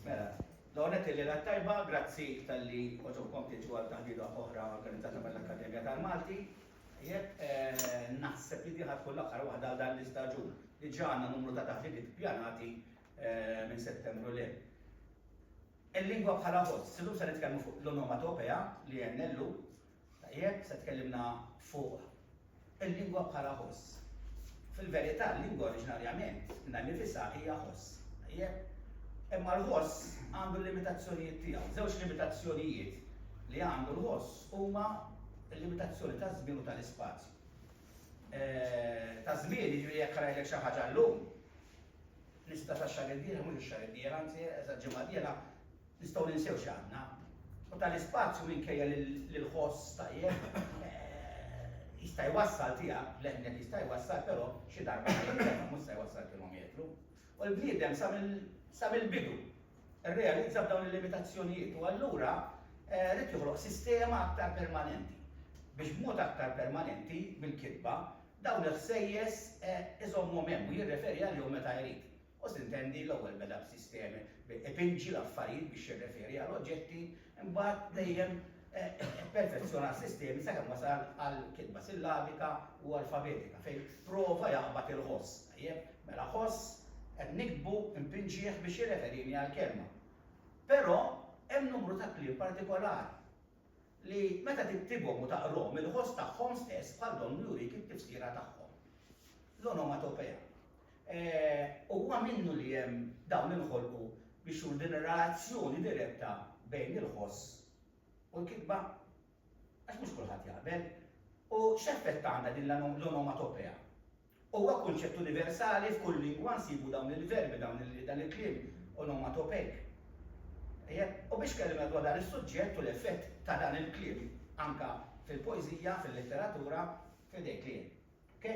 Mela, l-ewwel nett il-Lejla t-Tajba, grazzi talli għoġobkom tiġu għal taħdita oħra organizzata mill-Akkademja tal-Malti. Tajjeb, naħseb li din ħa tkun l-aħħar waħda għal dan l-istaġun. Diġà għandna numru ta' taħditiet ippjanati minn Settembru 'l hemm. Il-lingwa bħala ħoss, illum se nitkellmu fuq l-onomatopea li NLU Tajjeb, se tkellimna fuq il-lingwa bħala ħoss. Fil-verità, l-lingwa oriġinarjament minnha nnifisha hija ħoss. Tajjeb? Imma l-ħoss għandu l-limitazzjonijiet tiegħu. Żewġ limitazzjonijiet li għandu l-ħoss huma l-limitazzjoni taż-żmien u tal-ispazju. Taż-żmien, jiġifieri jekk rajlek xi ħaġa llum, nisptata x-xahar id-dieħel, mhux ix-xahar id-dieħel, anzi, eżatt, ġimgħa d-dieħla, Nistgħu ninsew x'għandna. U tal-ispazju minkejja li l-ħoss tajjeb jista' jwassal tiegħek, l-eħnet jista' jwassal però xi darba ma jintefa' mhux se jwassal kilometru. U l-bniedem sa mill-bidu rrealizza b'dawn il-limitazzjonijiet u allura ried joħloq sistema aktar permanenti biex b'mod aktar permanenti mill-kitba dawn il-ħsejjes iżommhom hemm u jirreferi għalihom meta jrid. U tintenni, l-ewwel beda b'sistemi, ipinġi l-affarijiet biex jirreferi għal oġġetti, imbagħad dejjem ipperfezzjona s-sistemi sakemm wasal għal kitba sillabika u alfabetika fejn prova jaqbad il-ħoss. Tajjeb, mela ħoss, qed niktbu, inpinġih biex jirreferini għall-kelma. Però hemm numru ta' kliem partikolari. li meta tiktibhom u taqrahom il-ħoss tagħhom stess bħal donnu jurik it-tifsira tagħhom. L-onomatopea. Huwa minnu li hemm dawn inħolqu biex juru din ir-relazzjoni diretta bejn il-ħoss u l-kitba? Għax mhux kulħadd jaqbel. U x'effett għandha din l-onomatopea? Huwa kunċett universali, f'kull lingwa nsibu dawn il-verbi, dawn il, dan il-kliem onomatopejk. Tajjeb, u biex kellimna dwar dan is-suġġett u l-effett ta' dan il-kliem anke fil-poeżija, fil-letteratura, f'idejk li hemm. Ok?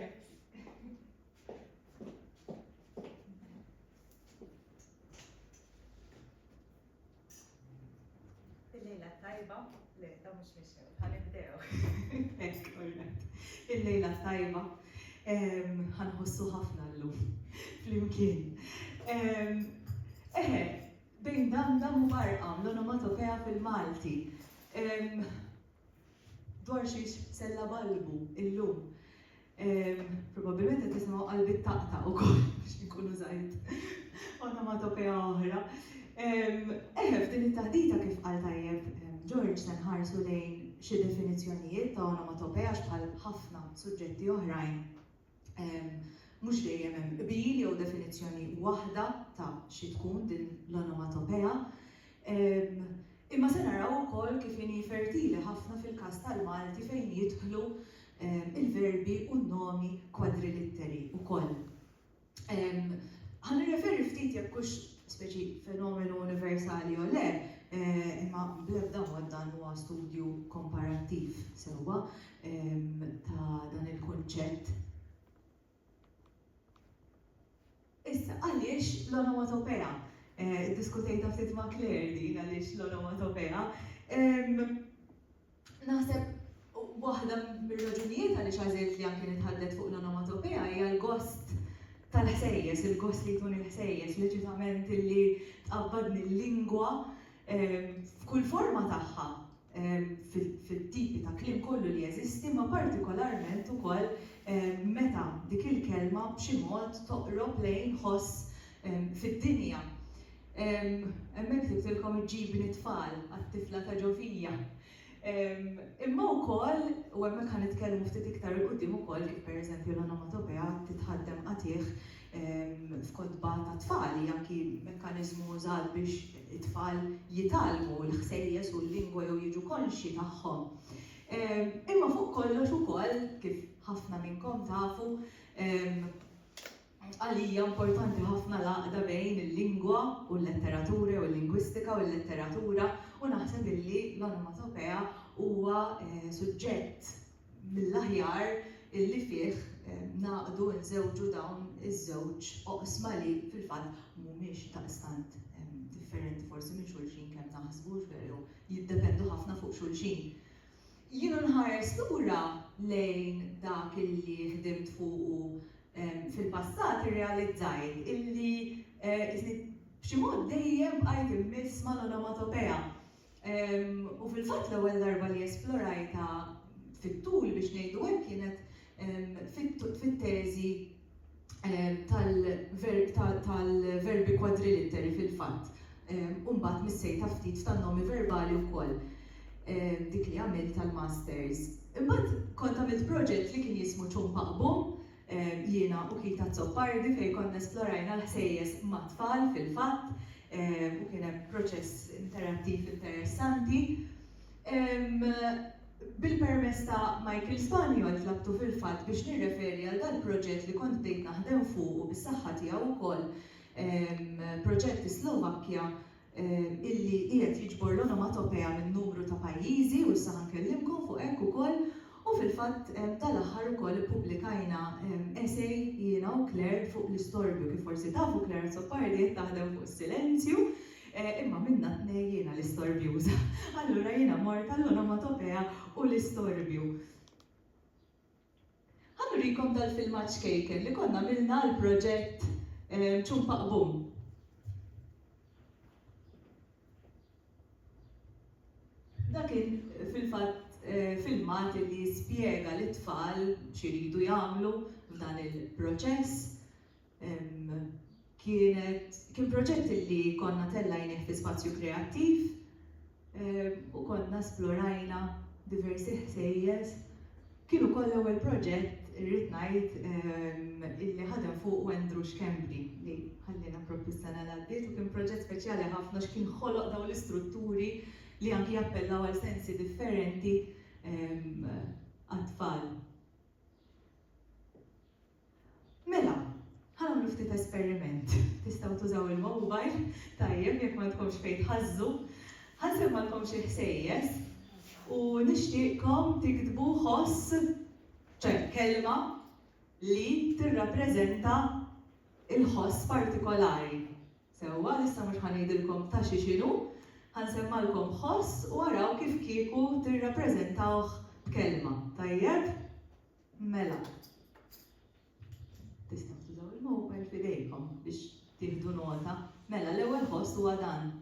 Il-lejla t-tajba, le, dawn mhux mixew, ħa nibdew. Thanks Cornette. Il-lejla t-tajba, ħa nħossu ħafna llum flimkien. Eħe, bejn dam dam u barqam, l-onomatopea fil-Malti. Dwar xiex se nlabalbu illum? Probabbilment qed tisimgħu qalbi ttaqta' ukoll biex inkun użajt onomatopea oħra. Eħe, f'din it-taħdita kif qal tajjeb George se nħarsu lejn xi definizzjonijiet ta' onomatopea għax bħal ħafna suġġetti oħrajn mhux dejjem hemm qbil jew definizzjoni waħda ta' xi tkun din l-onomatopea. Imma se naraw ukoll kif inhi fertili ħafna fil-każ tal-Malti fejn jidħlu l-verbi u n-nomi kwadrilitteri wkoll. Ħa nirreferi ftit jekk hux speċi fenomenu universali jew le, imma bl-ebda mod dan huwa studju komparattiv sewwa, ta' dan il-kunċett. Issa, għaliex l-onomatopea? Iddiskutejtha ftit ma' Claire din għaliex l-onomatopea. Naħseb waħda mir-raġunijiet għaliex għażilt li anke nitħaddet fuq l-onomatopea hija l-gost tal-ħsejjes, il-gost li jkun il-ħsejjes, leċitament illi tqabbadni l-lingwa, f'kull forma tagħha, fit-tipi ta' kliem kollu li jeżisti, imma partikolarment ukoll meta dik il-kelma b'xi mod toqrob lejn ħoss fid-dinja. Hemmhekk ktibtilkom iġġibni t-tfal, għat-tifla ta' ġo fija. Imma wkoll, u hemmhekk ħa nitkellmu ftit iktar 'il quddiem ukoll kif pereżempju l-onomatopea titħaddem qatigħ f'kotba tat-tfal, hija anki mekkaniżmu użat biex it-tfal jitgħallmu l-ħsejjes u l-lingwa jew jiġu konxji tagħhom. Imma fuq kollox ukoll, kif ħafna minnkom tafu, Għalija importanti ħafna l-għaqda bejn il-lingwa u l-letteratura jew il-lingwistika u l-letteratura u naħseb illi l-onomatopea huwa suġġett mill-aħjar illi fih nagħqdu, inżewġu dawn iż-żewġ oqsma li fil-fatt mhumiex daqstant differenti forsi minn xulxin kemm naħsbu jew jiddependu ħafna fuq xulxin. Jiena nħares lura lejn dak illi ħdimt fuqu fil-passat irrealizzajt illi isni b'xi mod dejjem bqajt immiss mal-onomatopea. U fil-fatt l-ewwel darba li esplorajtha fit-tul biex ngħidu hekk kienet fit-teżi tal-verbi kwadrilitteri fil-fatt u mbagħad missejta ftit f'tan-nomi verbali wkoll dik li għamilt tal-masters. Imbagħad kont għamilt proġett li kien jismu Ċum Paqbum jiena u Keith Azzopardi fejn konna esplorajna l-ħsejjes mat-tfal fil-fatt u kien hemm proċess interattiv interessanti. Bil-permess ta' Michael Spaniol tlabtu fil-fatt biex nirreferi għal dal-proġett li kont bdejt naħdem fuqu bis-saħħa tiegħu wkoll, proġett fis-Slovakkja illi qiegħed jiġbor l-onomatopea minn numru ta' pajjiżi u issa ħa nkellimkom fuq hekk ukoll. U fil-fatt dan l-aħħar ukoll ippubblikajna essay jiena u Claire fuq l-istorbju. Kif forsi tafu Claire Azzopardi qed taħdem fuq is-silenzju, imma minnha t-tnejn jiena l-istorbjuża. Allura jiena mort għall-onomatopea u l-istorbju. Ħa nurikom dal-filmat ċkejken li konna għamilna għall-proġett Ċumpaqbum. Dan kien fil-fatt filmat li jispjega lit-tfal x'iridu jagħmlu f'dan il-proċess. Kienet kien proġett li konna tellajnih fi spazju kreattiv u konna esplorajna diversi ħsejjes. Kien ukoll l-ewwel proġett, irrid ngħid, illi ħadem fuqu Andrew Schembri, li ħalliena proprju s-sena li għaddiet u kien proġett speċjali ħafna għax kien ħoloq dawn l-istrutturi li anki jappellaw għal sensi differenti għat-tfal. Mela, ħa nagħmlu ftit esperiment. Tistgħu tużaw il-mobile, tajjeb, jekk ma għandkomx fejn tħażżu. Ħa nsemmalkom xi ħsejjes u nixtieqkom tiktbu ħoss, ċe kelma li tirrappreżenta il-ħoss partikolari. Sewwa, issa mhux ħa ngħidilkom ta' xi x'inhu, ħa nsemmalkom ħoss u araw kif kieku tirrappreżentawh b'kelma, tajjeb? Mela, tistgħu tużaw il-mobile f'idejkom biex tieħdu nota. Mela, l-ewwel ħoss huwa dan.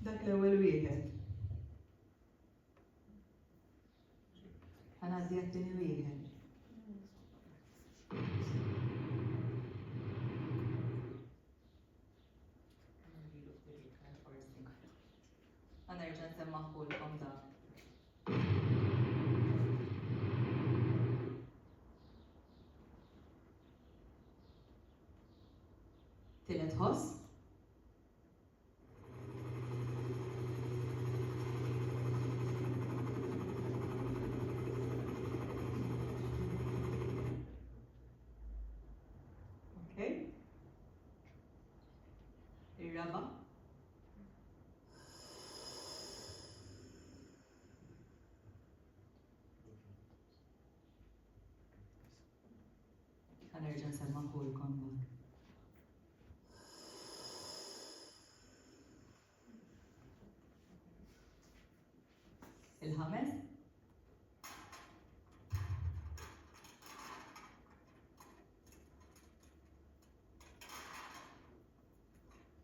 Dak l-ewwel wieħed. Ħanaddi għat-tieni wieħed. Għanerġa nsemmaħu l-kom da. Tielet ħoss. Ir-raba'. Ħa nerġa' nsemmagħhulkom dak. Il-ħames.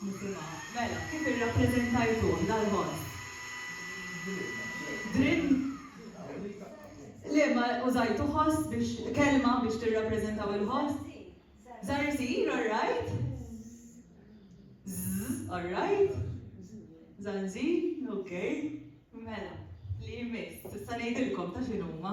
Nisimgħu. Mela, kif irrappreżentajtuh dal-vot? Drimm? Le, ma użajtu ħoss biex kelma biex tirrappreżentaw il-ħoss? Zarzir, all right? Zzz, all right? Zanzir, ok. Mela, li jmiss, tista' ngħidilkom ta' x'inhuma.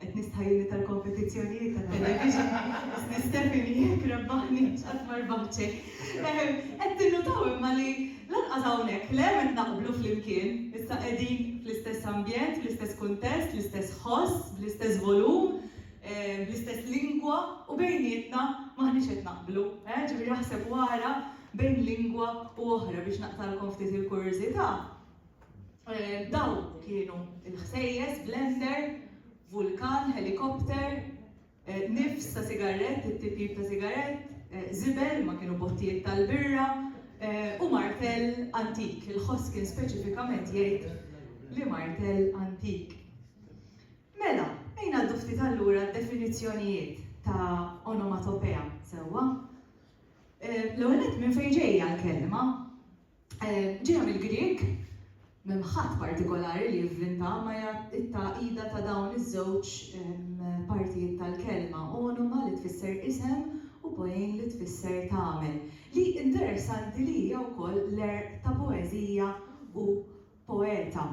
Qed nistħajjilni tal-kompetizzjonijiet ta' television li Stephanie jekk rebbaħniex qatt ma rbaħt xejn. Qed tinnutaw imma li lanqas hawnhekk le qed naqblu flimkien, issa qegħdin fl-istess ambjent, fl-istess kuntest, l-istess ħoss, bl-istess volum, bl-istess lingwa u bejnietna m'aħniex qed naqblu. Ġifieri aħseb u ara bejn lingwa u oħra biex naqtagħlkom ftit il-kurjużità, Dawn kienu il-ħsejjes, blender, vulkan, helikopter, nifs ta' sigarett, it-tipjip ta' sigarett, żibel, ma kienu bottijiet tal-birra, u martell antik. Il-ħoss kien speċifikament jgħid li martell antik. Mela, ejn ngħaddu ftit allura d-definizzjonijiet ta' onomatopea, sewwa? L-ewwel nett minn fejn ġejja l-kelma? Ġejja mill-Grieg, m'hemm ħadd partikolari li invvintaha imma hija t-tagħqida ta' dawn iż-żewġ partijiet tal-kelma, onuma li tfisser isem u poiein li tfisser tagħmel, li interessanti li hija wkoll l-għerq ta' poeżija u poeta.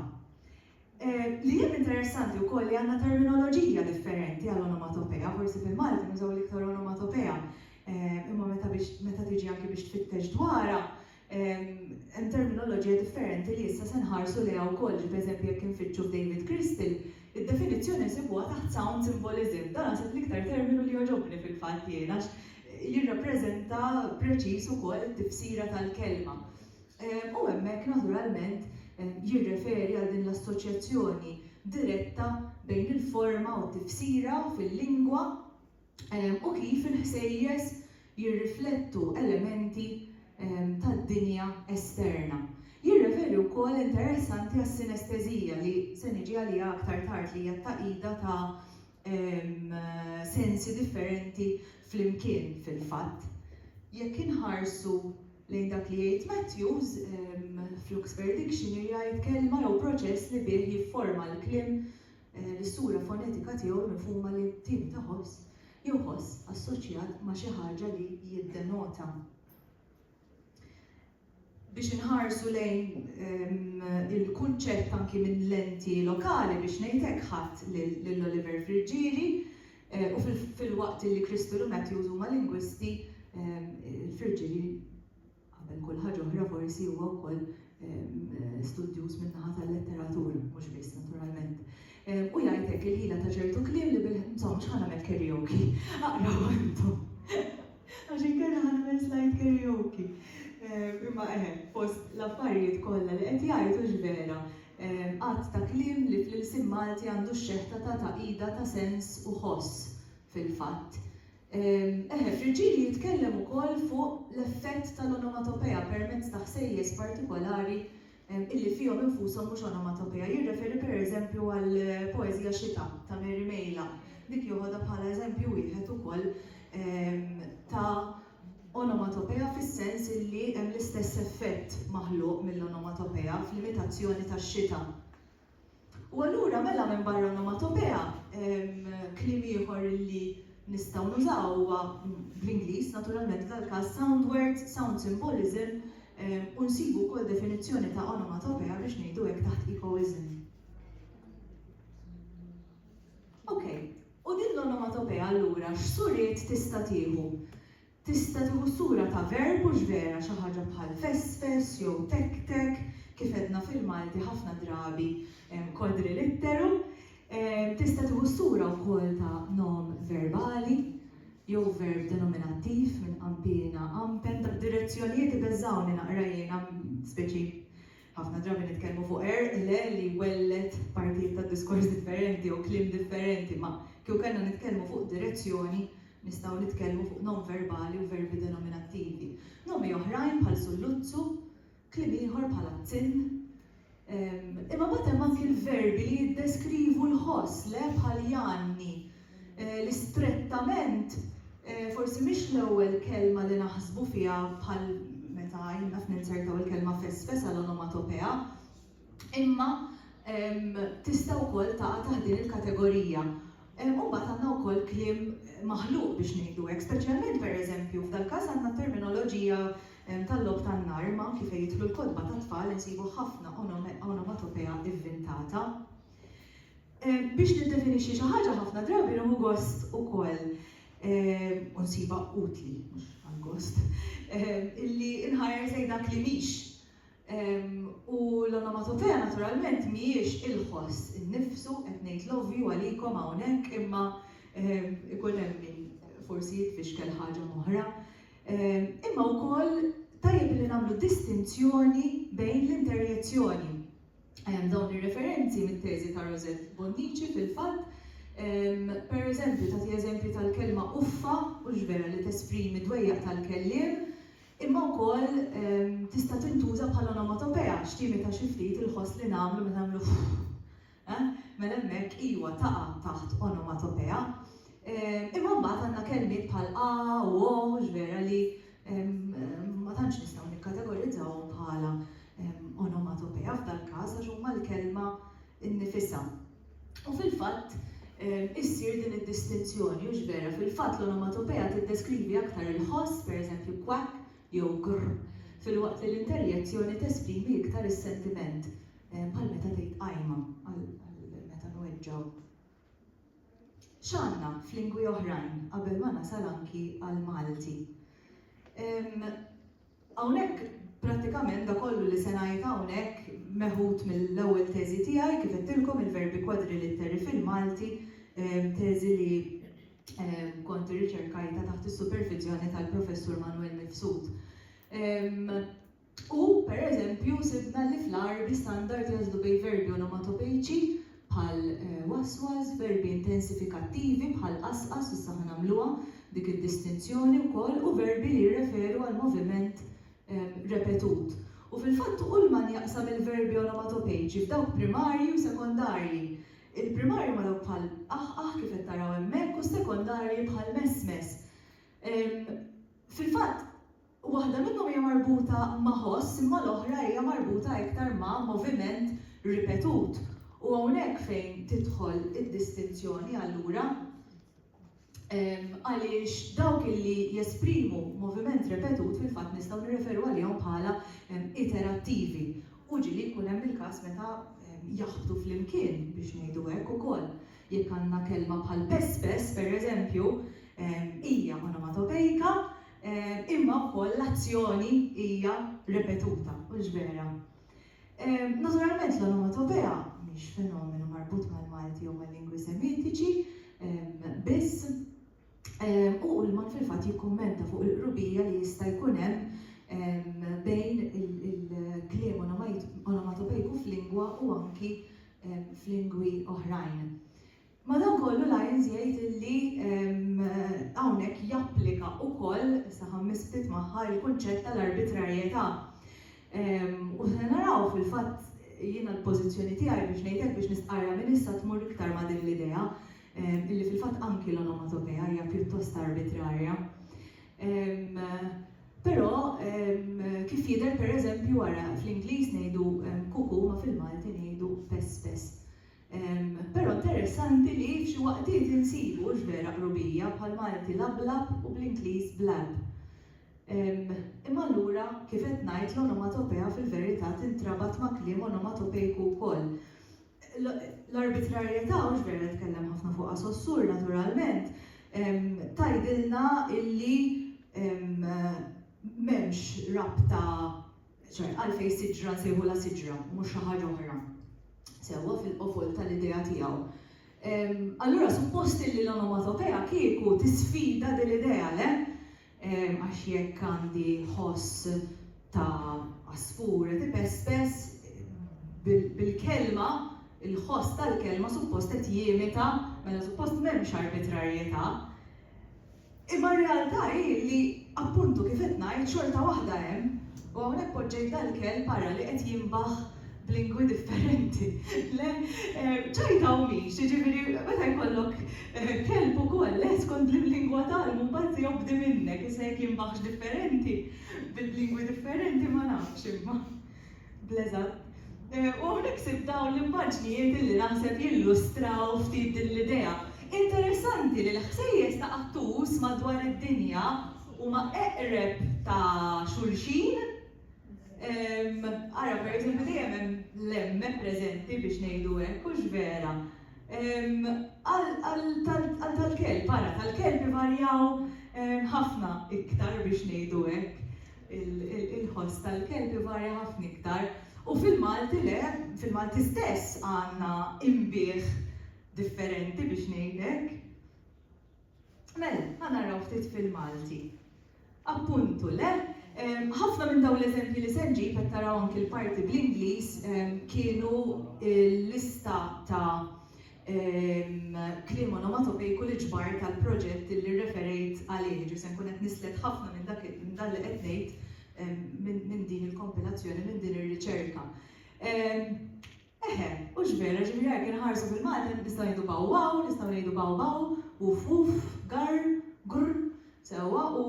Li hemm interessanti wkoll li għandna terminoloġija differenti għal onomatopea, forsi fil-Malti nużaw l-iktar onomatopea, imma meta biex meta tiġi anki biex tfittex dwarha, hemm terminoloġija differenti li issa se nħarsu lejha wkoll, ġifi eżempju jekk infittxu f'David Crystal, id-definizzjoni nsibuha taħt sound symbolism. Dan naħseb l-iktar terminu li jogħġobni fil-fatt jien għax jirrappreżenta preċiż ukoll it-tifsira tal-kelma. u hemmhekk naturalment jirreferi għal din l-assoċjazzjoni diretta bejn il-forma u t-tifsira fil-lingwa u kif il-ħsejjes jirriflettu elementi tad-dinja esterna. Jirreferi wkoll, interessanti, għas-sinestesija, li se niġi għaliha aktar tard, li hija t-tagħqida ta' sensi differenti flimkien fil-fatt. Jekk inħarsu lejn dak li jgħid Matthews, fl-Oxford Dictionary jgħid kelma jew proċess li bih jifforma l-kliem eh, l-sura fonetika tiegħu l-mifhuma li tieni ta' ħoss jew ħoss assoċjat ma' xi ħaġa li jiddenota. biex inħarsu lejn il-kunċett anki minn lenti lokali biex ngħid hekk ħadt lil Oliver Friggieri u filwaqt illi Crystal u Matthews huma lingwisti Friggieri qabel kull ħaġa oħra forsi huwa wkoll studjuż min-naħa tal-letteratura mhux biss naturalment u jgħid hekk il-ħila ta' ċertu kliem li bil insomma mhux ħa nagħmel karaoke aqrawha intom. Għax inkella ħa nagħmel slide karaoke. Imma eħe, fost l-affarijiet kollha li qed jgħid hux vera, għadd ta' kliem li fl-ilsien Malti għandu x-xeħta ta' tagħqida ta' sens u ħoss fil-fatt. Eħe, Friġġieli jitkellem ukoll fuq l-effett tal-onomatopea permezz ta' ħsejjes partikolari illi fihom infushom mhux onomatopea. Jirreferi per eżempju għall-poeżija Xita ta' Mary Mejla. Dik joħodha bħala eżempju wieħed ukoll ta' onomatopea fis-sens illi hemm l-istess effett maħluq mill-onomatopea fl-imitazzjoni tax-xita. U allura mela minbarra l-omatopea, kliem ieħor li nistgħu nużaw huwa, bl-Ingliż naturalment f'dal-każ, sound word, sound symbolism, u nsibu wkoll definizzjoni ta' onomatopoeia biex ngħidu hekk taħt echoism. Okej, u din l-onomatopoeia allura x'suriet tista' tieħu? Tista' tieħu s-sura ta' verb hux vera xi ħaġa bħal fesfes jew tektek, kif għedna fil-Malti ħafna drabi quadrilitteru. Tista' tieħu s-sura wkoll ta' nom verbali jew verb denominattiv minn qampina, qampen, tad-direzzjonijiet ibeżżgħuni naqra jiena, speċi. Ħafna drabi nitkellmu fuq għerq, le, li jwelled partijiet ta' diskors differenti jew kliem differenti, ma kieku kellna nitkellmu fuq direzzjoni, nistgħu nitkellmu fuq nonverbali u verbi denominattivi. Nomi oħrajn bħal sulluzzu, kliem ieħor bħal azzinn. Imma mbagħad hemm anki l-verbi li jiddeskrivu l-ħoss, le, bħal janni, li strettament forsi mhix l-ewwel kelma li naħsbu fiha bħal meta jien naf ninzertaw il-kelma fesfes għal onomatopea, imma tista' wkoll taqa' taħt din il-kategorija. U mbagħad għandna wkoll kliem maħluq biex ngħidu hekk, speċjalment pereżempju f'dal-każ għandna t-terminoloġija tal-logħob tan-nar, imma anki fejn jidħlu l-kotba tat-tfal insibu ħafna onomatopea vvintata. Biex niddefinixxi xi ħaġa ħafna drabi nieħu gost ukoll, u nsibha utli, mhux għall-gost, illi nħares lejn dak li mhix. U l-onomatopea naturalment mhijiex il-ħoss innifsu, qed ngħid l-ovvju għalikom hawnhekk imma ikun hemm min forsi jitfixkel ħaġa m'oħra. Imma wkoll tajjeb illi nagħmlu distinzjoni bejn l-interjezzjoni. dawn ir-referenzi mit-teżi ta' Rosette Bonnici fil-fatt, per eżempju, tagħti eżempju tal-kelma uffa, hux vera li tesprimi d-dwejjaq tal-kelliem, imma wkoll tista' tintuża bħala onomatopea, x' timita xi ftit il-ħoss li nagħmlu meta nagħmlu uff. Eħ, mela hemmhekk, iwa, taqa' taħt onomatopea. Imma mbagħad għandna kelmiet bħal a u o, hux vera li ma tantx nistgħu nikkategorizzawhom bħala onomatopeja f'dal-każ għax huma l-kelma nnifisha. U fil-fatt issir din id-distinzjoni, hux vera? Fil-fatt l-onomatopeja tiddeskrivi aktar il-ħoss, pereżempju quack jew grr, filwaqt li l-interjezzjoni tesprimi iktar is-sentiment, bħal meta tgħid qajma għal meta nweġġgħu. X'għandna f'lingwi oħrajn qabel ma nasal anki għall-Malti? Hawnhekk prattikament dak kollu li se ngħid hawnhekk meħud mill-ewwel teżi tiegħi, kif għedtilkom il-verbi kwadrilitteri fil-Malti, teżi li kont irriċerkajtha taħt is-superviżjoni tal-Professur Manwel Mifsud. U, pereżempju, sibna li fl-Għarbi standard jeżlu bejn verbi onomatopeiċi bħal waswas, verbi intensifikattivi bħal qasqas, issa ħa nagħmluha dik id-distinzjoni wkoll, u verbi li jirreferu għal moviment repetut. U fil-fatt Ullmann jaqsam il-verbi onomatopeiċi f'dawk primarji u sekondarji. Il-primarji huma dawk bħal qaħqaħ kif qed taraw hemmhekk u s-sekondarji bħal mesmes. Fil-fatt, Waħda minnhom hija marbuta ma' ħoss imma l-oħra hija marbuta iktar ma' moviment ripetut u hawnhekk fejn tidħol id-distinzjoni allura għaliex dawk li jesprimu moviment repetut fil-fatt nistgħu nirreferu għalihom bħala iterattivi u ġieli jkun hemm il-każ meta jaħbtu flimkien biex ngħidu hekk ukoll. Jekk għandna kelma bħal pespes, pereżempju, hija onomatopejika Imma wkoll l-azzjoni hija ripetuta, hux vera? Naturalment l-onomatopea mhix fenomenu marbut mal-Malti jew mal-lingwi Semitiċi biss, u Ullmann fil-fatt jikkummenta fuq il-qrubija li jista' jkun hemm bejn il-kliem onomatopejku f'lingwa u anki f'lingwi oħrajn. Madankollu Lyons jgħid li hawnhekk japplika wkoll, issa ħammis ftit magħha, il-kunċett tal-arbitrarjetà. U se naraw fil-fatt jiena l-pożizzjoni tiegħi biex ngħid hekk biex nistqarrha minn issa tmur iktar ma' din l-idea li fil-fatt anki l-onomatopea hija pjuttost arbitrarja. Però kif jidher pereżempju ara fl-Ingliż ngħidu cuckoo ma fil-Malti ngħidu pess pess. Però interessanti li f'xi waqtiet insibu, hux vera, qrubija bħall-Malti lablab u bl-Ingliż blab. Imma allura, kif qed ngħid, l-onomatopea fil-verità tintrabat ma' kliem onomatopejku wkoll. L-arbitrarjetà, hux vera li tkellem ħafna fuqha Saussure, naturalment, tgħidilna illi m'hemmx rabta Ċert, għalfejn siġra nsejħu la siġra u mhux xi ħaġa oħra? Sewwa fil-qofol tal-idea tiegħu. Allura suppost illi l-onomatopea kieku tisfida din l-idea, le? Għax jekk għandi ħoss ta' għasfur qed ipespes, bil-kelma, il-ħoss tal-kelma suppost qed jimita, mela suppost m'hemmx arbitrarjetà. Imma r-realtà hi li, appuntu, kif qed ngħid, xorta waħda hemm, u hawnhekk poġġejt dal-kelb, ara, li qed jinbaħ b'lingwi differenti. Le, ċajta u mhix, jiġifieri meta jkollok kelb ukoll, le, skont l-lingwa tagħlmu mbagħad se jobdi minnek, issa jekk jinbaħx differenti, b'lingwi differenti ma nafx imma. Bl-eżatt. U hawnhekk sibt dawn l-immaġnijiet illi naħseb jillustraw ftit din l-idea. Interessanti li l-ħsejjes ta' qattus madwar id-dinja huma eqreb ta' xulxin, ara pereżempju dejjem hemm l-emme preżenti biex ngħidu hekk, hux vera? għal tal-kelb, ara tal-kelb ivarjaw ħafna iktar biex ngħidu hekk. il-ħoss tal-kelb ivarja ħafna iktar u fil-Malti le, fil-Malti stess għandna inbigħ differenti biex ngħidlek. Mela, ħa naraw ftit fil-Malti. Appuntu le, ħafna minn dawn l-eżempji li se nġib qed taraw anki l-parti bl-Ingliż kienu l-lista ta' Kliem onomatopejku li ġbart għall-proġett li rreferejt għalih, jiġri se nkun qed nislet ħafna minn dak minn dan li qed ngħid minn din il-kompilazzjoni, minn din ir-riċerka. Eħe, hux vera, jiġifieri jekk inħarsu fil-Malti nistgħu ngħidu baw waw, nistgħu ngħidu baw baw, wuf wuf, garr, grr, sewwa u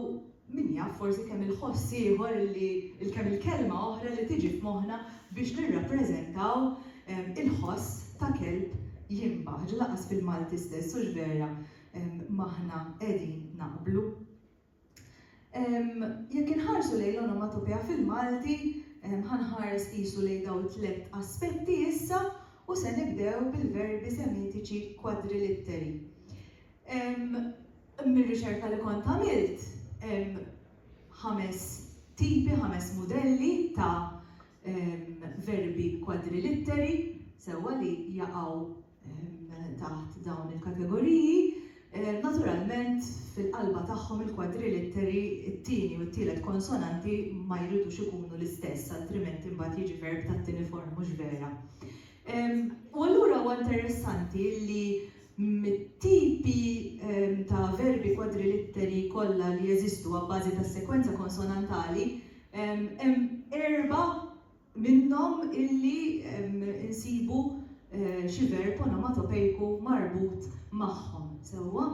min jaf forsi kemm il-ħoss ieħor li kemm il-kelma oħra li tiġi f'moħħna biex nirrappreżentaw il-ħoss ta' kelb jinbaħ. Ġieli lanqas fil-Malti stess hux vera m'aħna qegħdin naqblu. Jekk inħarsu lejn l-onomatopea fil-Malti ħa nħares qisu lejn dawn it-tliet aspetti issa u se nibdew bil-verbi semitiċi kwadrilitteri. Mir-riċerka li kont għamilt hemm ħames tipi, ħames mudelli ta' verbi kwadrilitteri, sewwa li jaqgħu taħt dawn il-kategoriji. Naturalment fil-qalba tagħhom il-kwadrilitteri, it-tieni u t-tielet konsonanti ma jridux ikunu l-istess, altrimenti mbagħad jiġi verb tat-tieni form, mhux vera? U allura huwa interessanti li mit-tipi ta' verbi kwadrilitteri kollha li jeżistu abbażi tas-sekwenza konsonantali, hemm erbgħa minnhom illi nsibu xi verb onomatopejku marbut magħhom, sewwa?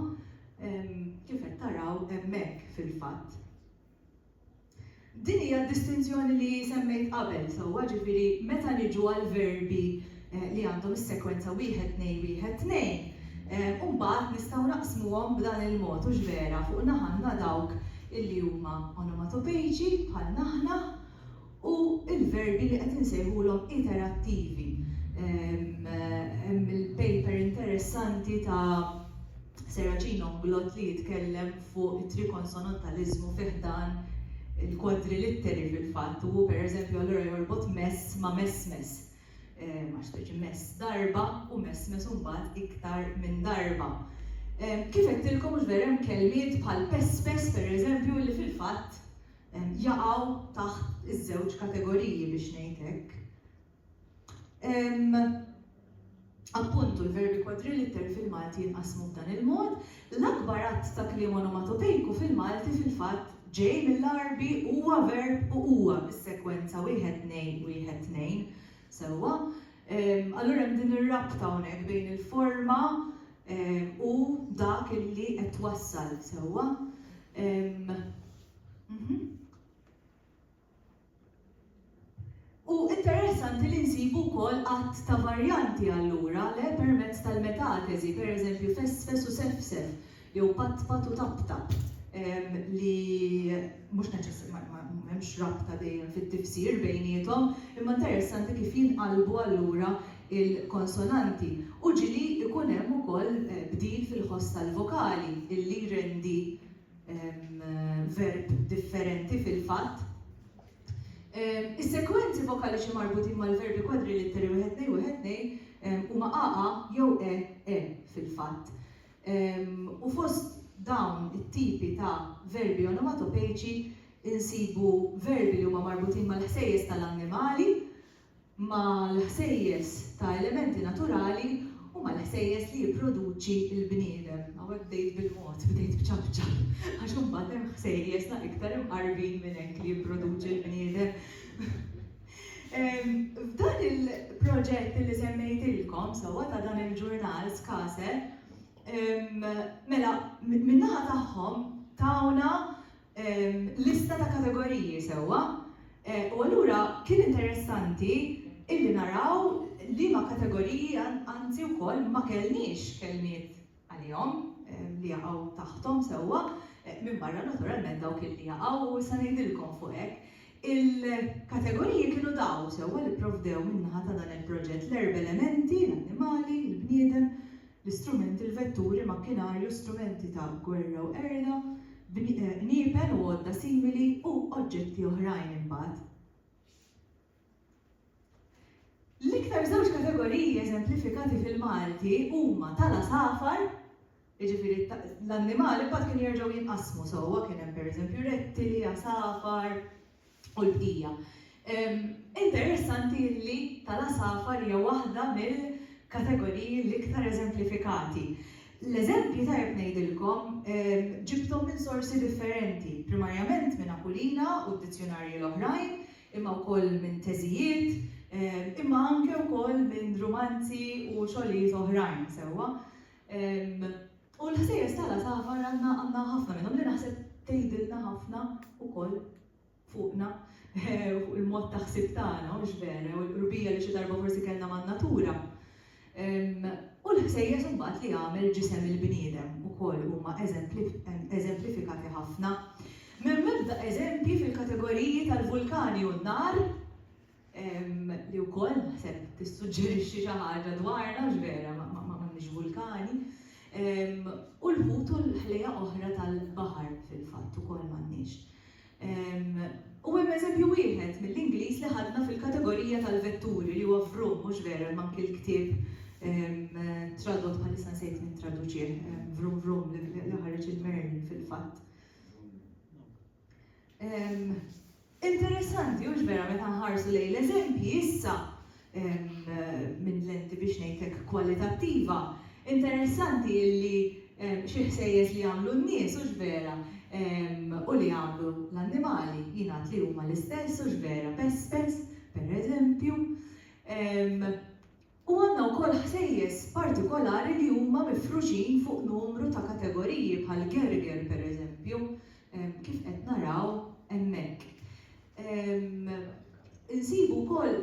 Kif qed taraw hemmhekk fil-fatt. Din hija d-distinzjoni li semmejt qabel sewwa, ġifieri meta niġu għall-verbi li għandhom is-sekwenza wieħed tnejn wieħed tnejn, u mbagħad nistgħu naqsmuhom b'dan il-mod, hux vera, fuq naħa għandna dawk illi huma onomatopeiċi bħalna aħna, u l-verbi li qed insejħulhom iterattivi. Hemm il-paper interessanti ta' Serracino Unglot li jitkellem fuq it-trikonsonantaliżmu fi ħdan il-kwadrilitteri fil-fatt u hu pereżempju allura jorbot mess ma' messmess, għax tgħidx mess darba u messmess imbagħad iktar minn darba. Kif għedtilkom, ġifier hemm kelmiet bħal pespes pereżempju li fil-fatt jaqgħu taħt iż-żewġ kategoriji biex ngħid hekk. Appuntu, l-verbi kwadrilitteri fil-Malti jinqasmu b'dan il-mod, l-akbar għadd ta' kliem onomatopejku fil-Malti fil-fatt ġej mill-Għarbi huwa verb u huwa bis-sekwenza wieħed tnej wieħed tnejn. Sewwa? Allura hemm din ir-rabta hawnhekk bejn il-forma u dak illi qed twassal. Sewwa? Mhm. U interessanti li nsibu wkoll għadd ta' varjanti allura le permezz tal-metateżi, per eżempju fesfes u sefsef, jew patpat u taptap, ehm, li mhux neċess ma hemmx rabta dejjem fit-tifsir bejniethom, imma interessanti kif jinqalbu allura il-konsonanti. U ġieli jkun hemm ukoll eh, bdil fil-ħoss tal-vokali illi jrendi verb differenti fil-fatt. Is-sekwenzi vokaliċi marbutin mal-verbi kwadri litteri wieħed nej wieħed nej huma qaqa jew e e fil-fatt. U fost dawn it-tipi ta' verbi onomatopejċi insibu verbi li huma marbutin mal-ħsejjes tal-annimali, mal-ħsejjes ta' elementi naturali u mal-ħsejjes li jipproduċi l-bniedem. Hawnhekk bdejt bil-mod, bdejt b'ċapċap, għax imbagħad hemm ħsejjes la iktar imqarbin minn hekk li jipproduċi l-bniedem. F'dan il-proġett li semmejtilkom sewwa ta' dan il-ġurnal Skase, mela min-naħa tagħhom tawna lista ta' kategoriji sewwa u allura kien interessanti illi naraw liema kategoriji anzi wkoll ma kellniex kelmiet għalihom li jaqgħu taħthom sewwa minbarra naturalment dawk illi jaqgħu u issa ngħidilkom fuq hekk. Il-kategoriji kienu dawn sewwa li pprovdew min-naħa ta' dan il-proġett, l-erb elementi, l-annimali, il-bniedem, l-istrumenti, l-vetturi, makkinarju, strumenti ta' gwerra u qerda, qniepen u għodda simili u oġġetti oħrajn imbagħad. L-iktar żewġ kategoriji eżemplifikati fil-Malti huma tal-għasafar, jiġifieri l-annimali mbagħad kienu jerġgħu jinqasmu sewwa, kien hemm pereżempju rettili, għasafar, u l-bqija. Interessanti li tal-għasafar hija waħda mill-kategoriji l-iktar eżemplifikati. L-eżempji tajjeb ngħidilkom ġibthom minn sorsi differenti, primarjament minn Aquilina u d-dizzjunarji l-oħrajn, imma wkoll minn teżijiet, imma anke wkoll minn rumanzi u xogħlijiet oħrajn, sewwa. U l-ħsejjes tal-għasafar għandna għandna ħafna minnhom li naħseb tgħidilna ħafna wkoll fuqna, fuq il-mod ta' ħsieb tagħna, hux vera, jew il-qrubija li xi darba forsi kellna man-natura. U l-ħsejjes imbagħad li għamel ġisem il-bniedem ukoll huma eżemplifikati ħafna. M'hemm ebda eżempji fil-kategoriji tal-vulkani u n-nar li wkoll naħseb tissuġġerixxi xi ħaġa dwarna, mhux vera, m'għandniex vulkani, u l-ħut u l-ħlejjaq oħra tal-baħar fil-fatt ukoll m'għandniex. U hemm eżempju wieħed mill-Ingliż li ħadna fil-kategorija tal-vetturi li huwa vroom, mhux vera, hemm anki l-ktieb tradott bħalissa nsejt min traduċieh, vroom vroom li ħareġ il-Merlin fil-fatt. Interessanti, hux vera meta nħarsu lejn l-eżempji issa minn lenti biex ngħidlek kwalitattiva. Interessanti illi xi ħsejjes li jagħmlu n-nies hux vera u li jagħmlu l-annimali jingħad li huma l-istess hux vera, pespes, pereżempju. U għandna wkoll ħsejjes partikolari li huma mifruxin fuq numru ta' kategoriji bħal gerger per eżempju, kif qed naraw hemmhekk. Insibu wkoll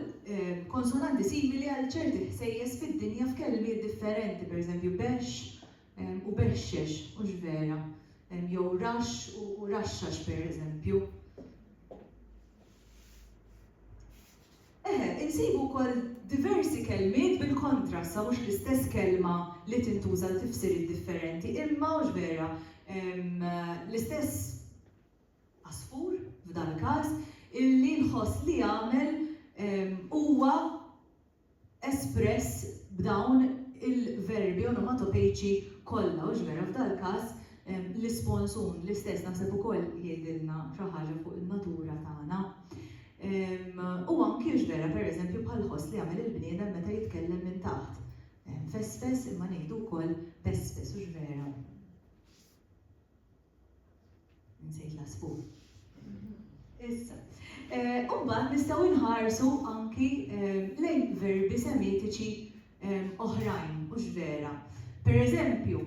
konsonanti simili għal ċerti ħsejjes fid-dinja f'kelmiet differenti, per eżempju bexx u bexxex, hux vera? Jew raxx u raxxax per eżempju. Eħe, insibu wkoll diversi kelmiet bil-kontra, issa mhux l-istess kelma li tintuża għal tifsiriet differenti, imma, hux vera, l-istess għasfur, f'dal-każ, illi nħoss li għamel huwa espress b'dawn il-verbi onomatopeiċi kollha, hux vera f'dal-każ l-ispons un l-istess naħseb ukoll jgħidilna xi ħaġa fuq in-natura tagħna. U anki hux vera pereżempju bħall-ħoss li jagħmel il-bniedem meta jitkellem minn taħt. Fesfes imma ngħidu wkoll pespes, hux vera? Nsejt l-għasfur. Issa. Eh, Umbagħad nistgħu nħarsu anki eh, lejn verbi semitiċi eh, oħrajn, mhux vera. Per eżempju,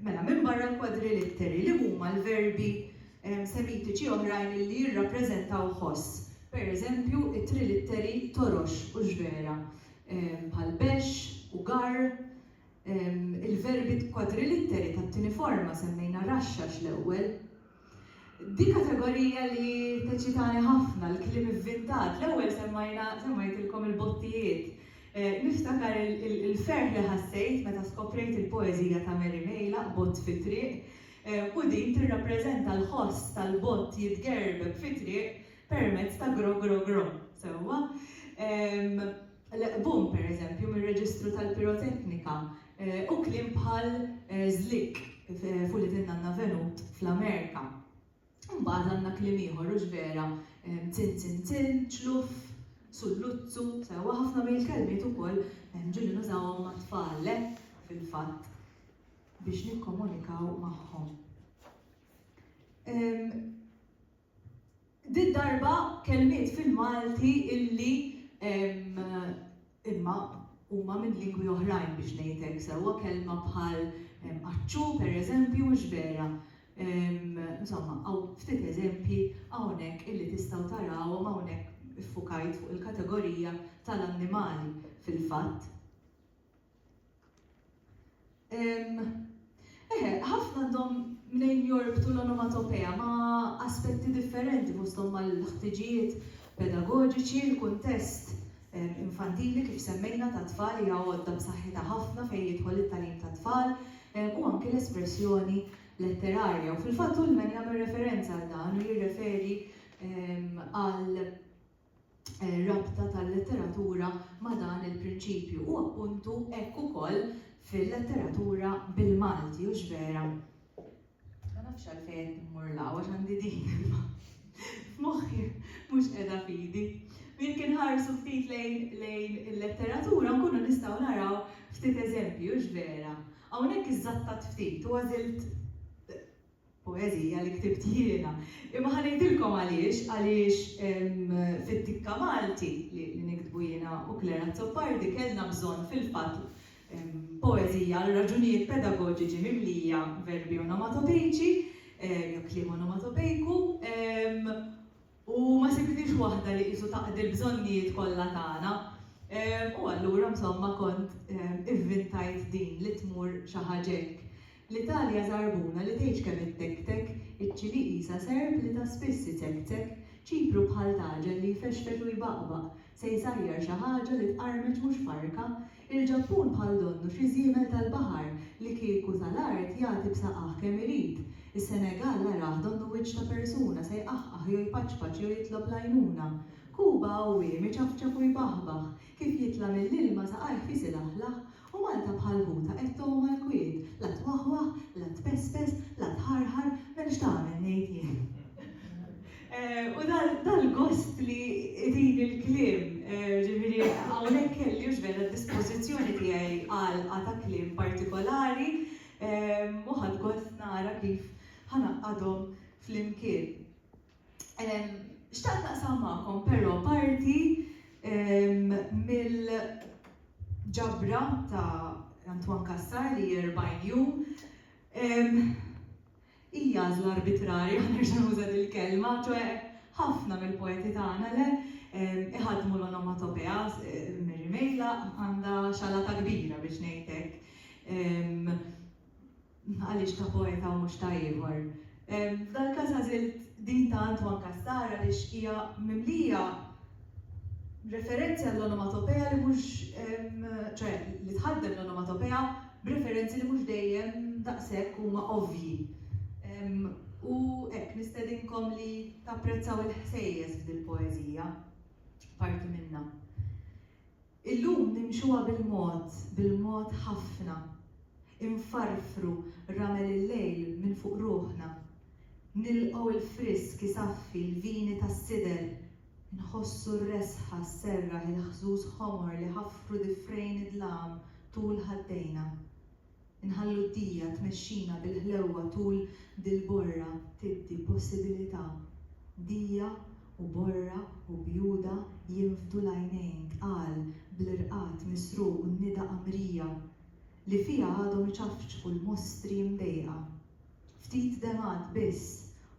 mela minn barra l-kwadrilitteri li huma l-verbi semitiċi oħrajn li jirrappreżentaw ħoss. Per eżempju, it-trilitteri torox u ġvera, bħal bex u gar, il-verbi kwadrilitteri tat-tieni forma, semmejna raxxax l-ewwel. Di kategorija li teċċitani ħafna, l-kliem ivvintat. L-ewwel semmajna, semmajtilkom il-bottijiet. Niftakar il-ferħ li ħassejt meta skoprejt il-poeżija ta' Mary Mejlaq, Bott fi triq, u din tirrappreżenta l-ħoss tal-bott jitgerbeb fi triq permezz ta' gro gro gro. Sewwa? l-qbum, pereżempju, mir-reġistru tal-piroteknika, u kliem bħal żlikk f'Ulied in-Nanna Venut fl-Amerika. Imbagħad għandna kliem ieħor, hux vera, tintintin, ċluff, sulluzzu, sewwa ħafna mill-kelmiet ukoll ġieli nużawhom mat-tfal, le, fil-fatt, biex nikkomunikaw magħhom. Did-darba kelmiet fil-Malti illi imma huma minn lingwi oħrajn biex ngħidlek sewwa, kelma bħal aċċu pereżempju mhux vera. Insomma, hawn ftit eżempji hawnhekk illi tistgħu tarawhom hawnhekk iffukajt fuq il-kategorija tal-annimali fil-fatt. Eħe, ħafna għandhom mnejn jorbtu l-onomatopea ma' aspetti differenti fosthom mal-ħtiġijiet pedagoġiċi, l-kuntest infantili kif semmejna tat-tfal hija għodda b'saħħitha ħafna fejn jidħol it-tagħlim tat-tfal u anki l-espressjoni letterarja. U fil-fatt Ullman jagħmel referenza għal dan u jirreferi għal rabta tal-letteratura ma' dan il-prinċipju u appuntu hekk ukoll fil-letteratura bil-Malti, hux vera? Ma nafx għalfejn qed immur 'l hawn għax għandi din imma f'moħħi mhux qiegħda f'idi. U jekk inħarsu ftit lejn il-letteratura nkunu nistgħu naraw ftit eżempji, hux vera? Hawnhekk iżżattat ftit u għażilt Poeżija li ktibt jiena. Imma ħa ngħidilkom għaliex, għaliex fit-tikka Malti li niktbu jiena u Claire Azzopardi kellna bżonn fil-fatt poeżija għal raġunijiet pedagoġiċi mimlija verbi onomatopejċi jew kliem onomatopejku, u ma sibitnix waħda li qisu taqdi l-bżonnijiet kollha tagħna. U allura msomma kont ivvintajt din li tmur xi ħaġa hekk. L-Italja żarbuna li tgħidx kemm ittektek, iċ-Ċilì qisha serp li ta' spiss iċekċek, Ċipru bħal taġel li jfexfex u jbaqbaq, se jsajjar xi ħaġa li tqarmeċ mhux farka, Il-Ġappun bħal donnu xi żiemel tal-baħar li kieku ta l-art jagħti b'saqajh kemm irid. Is-Senegal arah donnu wiċċ ta' persuna se jqaħqaħ jew jpaċpaċ jew jitlob l-għajnuna. Kuba għawwiem iċafċaf u jbaħbaħ, kif jitla' mill-ilma saqajh fis ilaħlaħ, u Malta bħal ħuta qed tgħum għall-kwiet, la twaħwaħ, la tpespes, la tħarħar, m'hemmx tagħmel ngħid jien. U dal-gost li itini l-kliem, ġifieri hawnhekk kelli u x'veru d-dispożizzjoni tiegħi għalqa ta' kliem partikolari u ħadt gost nara kif ħa ngħaqqadhom flimkien. Xtaqt naqsam magħkom però parti mill-ġabra ta' Antoine Cassar li hi 40 jum. Hi għażla arbitrarja, nerġa' nuża dil-kelma, ċoe ħafna mill-poeti tagħna, le, iħaddmu l-onomatopea, Mary Mejla għandha xalata kbira biex ngħid hekk, għaliex ta' poeta u mhux ta' ieħor. F'dal-każ għażilt din ta' Antoine Castar għaliex hija mimlija referenzi għall-onomatopea li mhux, ċoe li tħaddem l-onomatopea, b'referenzi li mhux dejjem daqshekk huma ovvji. U hekk, nistedinkom li tapprezzaw il-ħsejjes f'dil-poeżija, parti minnha. Illum nimxuha bil-mod, bil-mod ħafna. Infarfru ramel il-lejl minn fuq ruħna. Nilqgħu l-frisk isaffi l-vini tas-sider Nħossu r-resħa sserraħ il-ħżuż ħomor li ħaffru difrejn id-dlam tul ħaddejna. Inħallu d-dija tmexxina bil-ħlewwa tul dil-borra tiddi possibilità. Dija u borra u bjuda jinfdu l-għajnejn tqal bl-irqad misruq u n-nida qamrija li fiha għadhom iċafċfu l-mostri mdejqa. Ftit demgħat biss,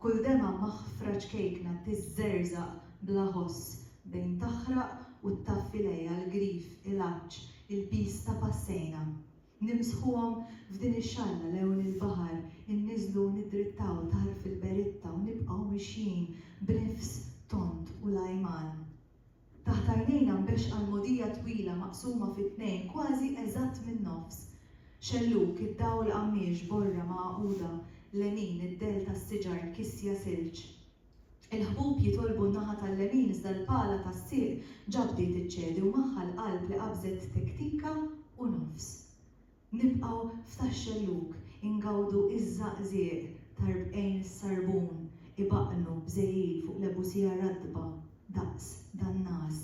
kull demgħa maħfra ċkejkna tiżżerżaq bla ħoss bejn taħraq u ttaffi lejha l-grif, il-għatx, il-piż ta' passejna. Nimsħuhom f'din ix-xalla lewn il-baħar, inniżlu u niddrittaw tarf il-beritta u nibqgħu mixjin b'nifs tond u lajman. Taħt għajnejna nbexxa l-mogħdija twila maqsuma fi tnejn kważi eżatt min-nofs. Xellug, id-dawl qammiex, borra magħquda, lemin, id-dell tas-siġar, kisja silġ. Il-ħbub jitolbu n-naħa tal-lemin iżda l-pala tas-sieq ġa bdiet iċċedi u magħha l-qalb li qabżet tektika u nofs. Nibqgħu f'Tax-Xellug ingawdu ż-żaqżieq t'arbqejn sarbun ibaqqnu b'żejjil fuq lebusija ratba daqs dan-nas.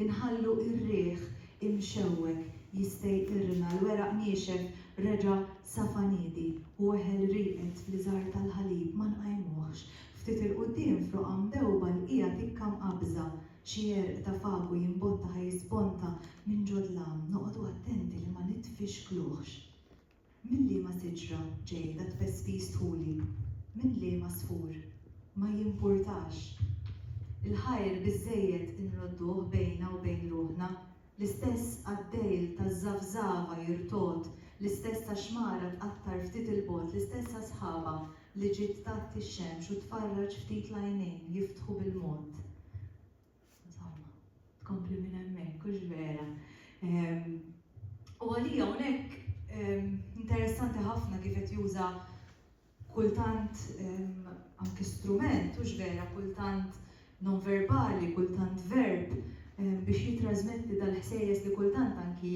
Inħallu r-riħ imxewweg jistejqirna, l-weraq niexef reġa' safa niedi u eħel rieqed fl-iżgħar tal-ħalib ma nqajmuhx. Ftit 'il quddiem f'roqgħa mdewba lqiegħa tikka mqabbża Xi għerq ta' fagu jimbotta ħa jisponta minn ġo dlam, noqogħdu attenti li ma nitfixkluhx. Minn liema siġra ġej dat-tpespis dħuli? Minn liema għasfur? Ma jimpurtax. Il-ħajr biżżejjed inrodduh bejna u bejn ruħna. L-istess qaddejl taż-żafżafa jirtogħod, l-istess taxmara tqattar ftit 'il bogħod, l-istess asħaba li ġiet tgħatti x-xemx u tfarraġ ftit l-għajnejn jiftħu bil-mod. Insomma, tkompli minn hemmhekk, hux vera? U għalija hawnhekk interessanti ħafna kif qed juża kultant anki strument, hux vera, kultant nonverbali, kultant verb, biex jittrażmetti dal-ħsejjes li kultant anki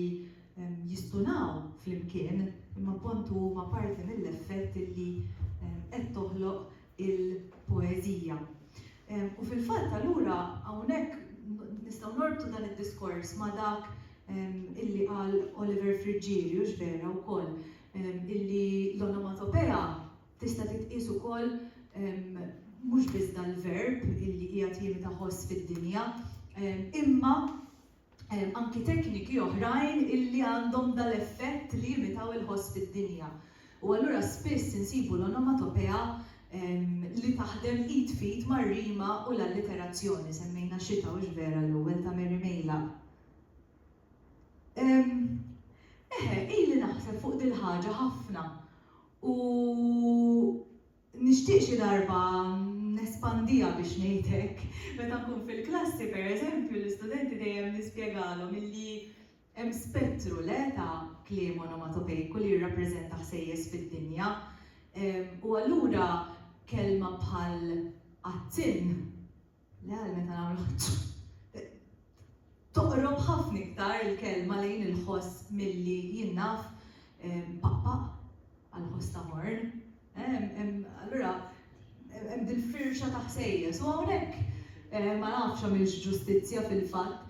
jistunaw flimkien, imma appontu huma parti mill-effett li qed toħloq il-poeżija. U fil-fatt allura hawnhekk nistgħu norbtu dan id-diskors ma' dak illi qal Oliver Friggieri, hux vera, wkoll, illi l-onomatopea tista' titqies ukoll mhux biss dal-verb illi qiegħed jimita ħoss fid-dinja, imma anki tekniki oħrajn illi għandhom dal-effett li jimitaw il-ħoss fid-dinja. U allura spiss insibu l-onomatopea li taħdem id f'id mar-rima u l-alliterazzjoni, semmejna Xita hux vera l-ewwel ta' Mary Meilaq. Ehm, eħe, ili naħseb fuq dil-ħaġa ħafna u nixtieq xi darba nespandija biex ngħidlek. Meta nkun fil-klassi, per eżempju, l-istudenti dejjem nispjegalhom illi hemm spettru le ta' kliem onomatopejku li jirrappreżenta ħsejjes fid-dinja. U allura kelma bħal qattinn Le għal meta nagħmlu Toqrob ħafna iktar il-kelma lejn il-ħoss milli jinnaf pappa għal ħoss ta' morn. Allura, hemm dil-firxa ta' ħsejjes. U hawnhekk eh, ma nafx għamilx ġustizzja fil-fatt.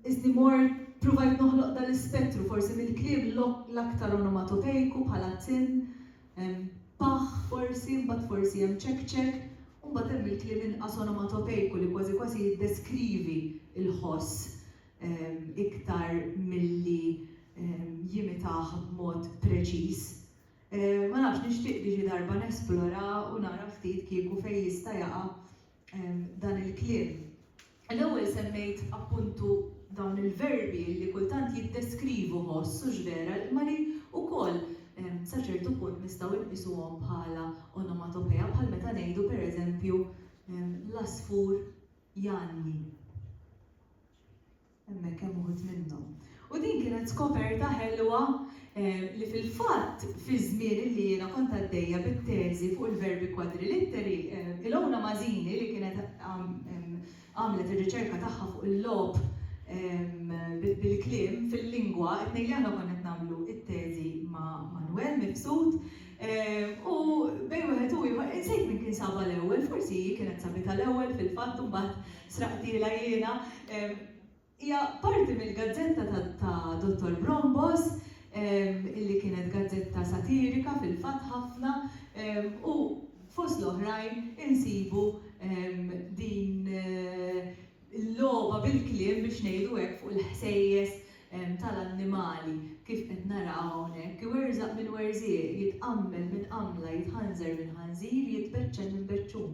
Iżni mor provajt noħloq dal-ispettru forsi mill-kliem l-aktar onomatopejku bħala tin, Hemm paħħ forsi, imbagħad forsi hemm ċekċek, u mbagħad hemm il-kliem inqas onomatopejku li kważi kważi jiddeskrivi l-ħoss iktar milli jimitah b'mod preċiż. Ma nafx, nixtieq li xi darba nesplora u nara ftit kieku fejn jista' jaqa' dan il-kliem. L-ewwel semmejt appuntu dawn il-verbi li kultant jiddeskrivu ħoss, hux vera, imma li wkoll sa ċertu punt nistgħu nqisuhom bħala onomatopeja bħal meta ngħidu pereżempju l-għasfur janni. Hemmhekk hemm uħud minnhom. U din kienet skoperta ħelwa li fil-fatt fiż-żmien illi jiena kont għaddejja bit-teżi fuq il-verbi kwadrilitteri, Ilona Masini li kienet għamlet ir-riċerka tagħha fuq il-logħob bil-kliem fil-lingwa, it-tnejn li aħna konna qed nagħmlu t-teżi ma' Manwel Mifsud, u bejn wieħed u ieħor insejt min kien sabha l-ewwel, forsi hi kienet sabitha l-ewwel fil-fatt u mbagħad Sraqtilha jiena. Hija parti mill-gazzetta ta' Dottor Brombos, illi kienet gazzetta satirika fil-fatt ħafna, u fost l-oħrajn insibu din il-logħba bil-kliem biex ngħidu hekk fuq il-ħsejjes tal-annimali kif qed naraw hawnhekk, iwerżaq minn werżieq, jitqammel minn qammla, jitħanżar minn ħanżir, jitbeċċel minn beċċun.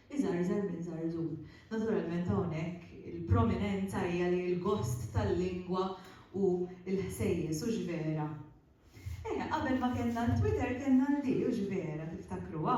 Iżgħarżar minn żarżur. Naturalment hawnhekk il-prominenza hija li l-gost tal-lingwa hu l-ħsejjes, hux vera? Eh, qabel ma kellna l-Twitter kellna l-di, hux vera, tiftakruha?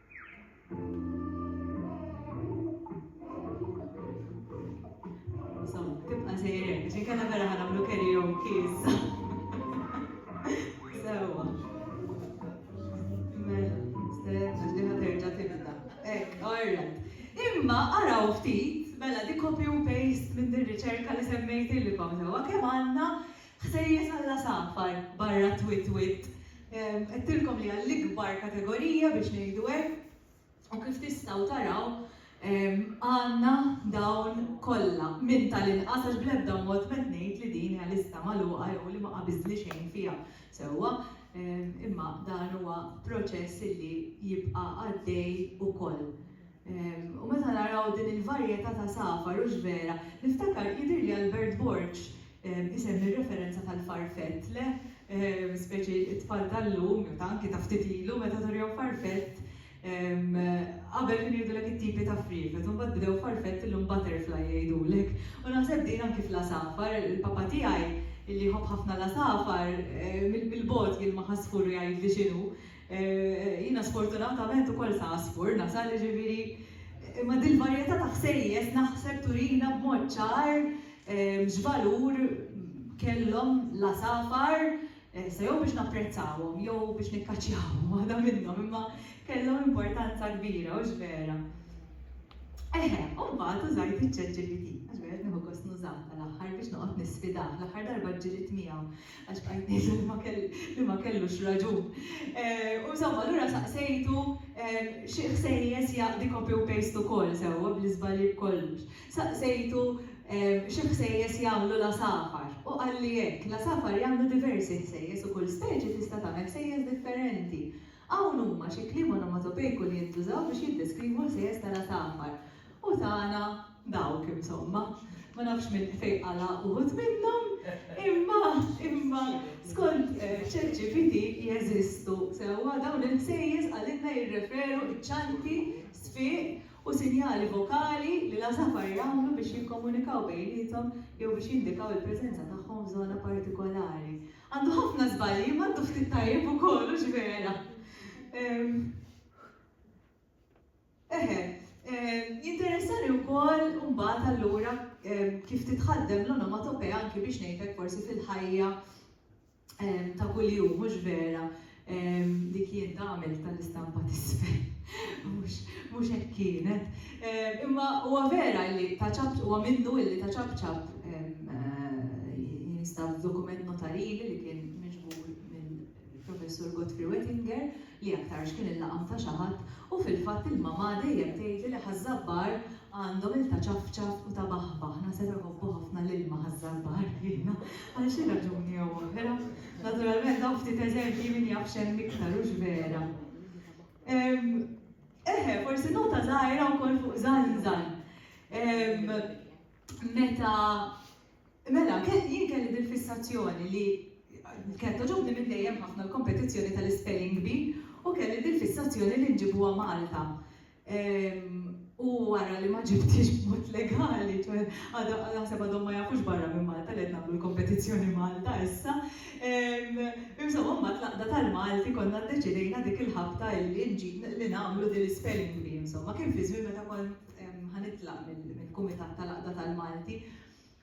Tibqa' sejjer hekk, għax inkella vera ħa nagħmlu karaoke issa. Sewwa. Mela, stenna x'diħa terġa' tibda. Hekk, all right. Imma araw ftit, mela di copy u paste minn dir-riċerka li semmejtilkom sewwa kemm għandna Ħsejjes għall-għasafar barra t-twit-twitt. Għedtilkom li hija l-ikbar kategorija biex ngħidu hekk u kif tistgħu taraw għandna dawn kollha minn tal-inqas għax bl-ebda mod m'qed ngħid li din hija lista magħluqa jew li ma qabiżtli xejn fiha sewwa imma dan huwa proċess li jibqa' għaddej ukoll. U meta naraw din il-varjetà ta' safar, hux vera? Niftakar, jidhirli Albert Borg isemmi r-referenza tal-farfett, le? Speċi t-tfal tal-lum, jew ta' anki ta' ftit ilu, meta turihom farfett, qabel kienu jgħidulek it-tipi ta' friefet, u mbagħad bdew farfett illum butterfly jgħidulek. U naħseb din anki fl-għasafar, il-papa tiegħi, li jħobb ħafna l-għasafar, mill-bogħod jilmaħ għasfur u jgħidli x'inhu. Jiena sfortunatament ukoll ta' Għasfur nasal, jiġifieri, imma dil-varjetà ta' ħsejjes naħseb turina b'mod ċar x'valur kellhom l-għasafar, sa jew biex napprezzawhom jew biex nikkaċċjawhom, waħda minnhom, imma kellhom importanza kbira, hux vera? Eħe, u mbagħad użajt iċ-ChatGPT, għax vera qed nieħu gost nużah tal-aħħar biex noqgħod nisfidah, l-aħħar darba ġġielidt miegħu. Għax bqajt ngħid li ma kellux raġun. U insomma, allura saqsejtu xi ħsejjes jaqdi copy u paste ukoll sewwa bl-iżbalji b'kollox. Saqsejtu xi ħsejjes jagħmlu l-għasafar u qalli hekk, l-għasafar jagħmlu diversi ħsejjes u kull speċi tista' tagħmel ħsejjes differenti. Hawn huma xi kliem onomatopejku li jintużaw biex jiddeskrivu l-ħsejjes tal-għasafar. U tana Dawk, insomma, ma nafx min se jqala' uħud minnhom, imma, imma, skont ChatGPT jeżistu sewwa dawn il-ħsejjes qalilna jirreferu ċ-ċanti, sfiq u sinjali vokali li l-għasafar jagħmlu biex jikkomunikaw bejniethom jew biex jindikaw il-preżenza tagħhom f'żona partikolari. Għandu ħafna żbalji imma għandu ftit tajjeb ukoll, hux vera? Eħe, jinteressani wkoll imbagħad allura kif titħaddem l-onomatopea anki biex ngħidlek forsi fil-ħajja ta' kuljum, mhux vera li kien tagħmel tal-istampa t'isfel. Mhux hekk kienet. Imma huwa vera li ta' ċapċap huwa minnu illi ta' ċapċap jinstab dokument notarili li kien miġbur mill-Professur Godfrey Wettinger, li aktarx kien il-laqam ta' xi ħadd u fil-fatt il-mamà dejjem tgħidli li ħaż-Żabbar għandhom il-ta' ċafċaf u ta' baħbaħ, naħseb iħobbu ħafna l-ilma ħaż-Żabbar jiena għal xi raġuni jew oħra. Naturalment dawn ftit eżempji min jaf x'hemm iktar hux vera. Eħe, forsi nota żgħira wkoll fuq żgħanżagħ. Meta Mela, jien kelli dil-fissazzjoni li kienet togħġobni minn dejjem ħafna l-kompetizzjoni tal-ispelling bee u kelli dil-fissazzjoni li nġibuha Malta. U wara li ma ġibthiex b'mod legali, ċoħe għadha naħseb għadhom ma jafux barra minn Malta li qed nagħmlu l-kompetizzjoni Malta issa. Insomma, mbagħad l-Għaqda tal-Malti konna ddeċidejna dik il-ħabta illi li nagħmlu dil-ispelling bee insomma. Kien fi żmien meta kont ħa nitlaq mill-kumitat tal-Għaqda tal-Malti.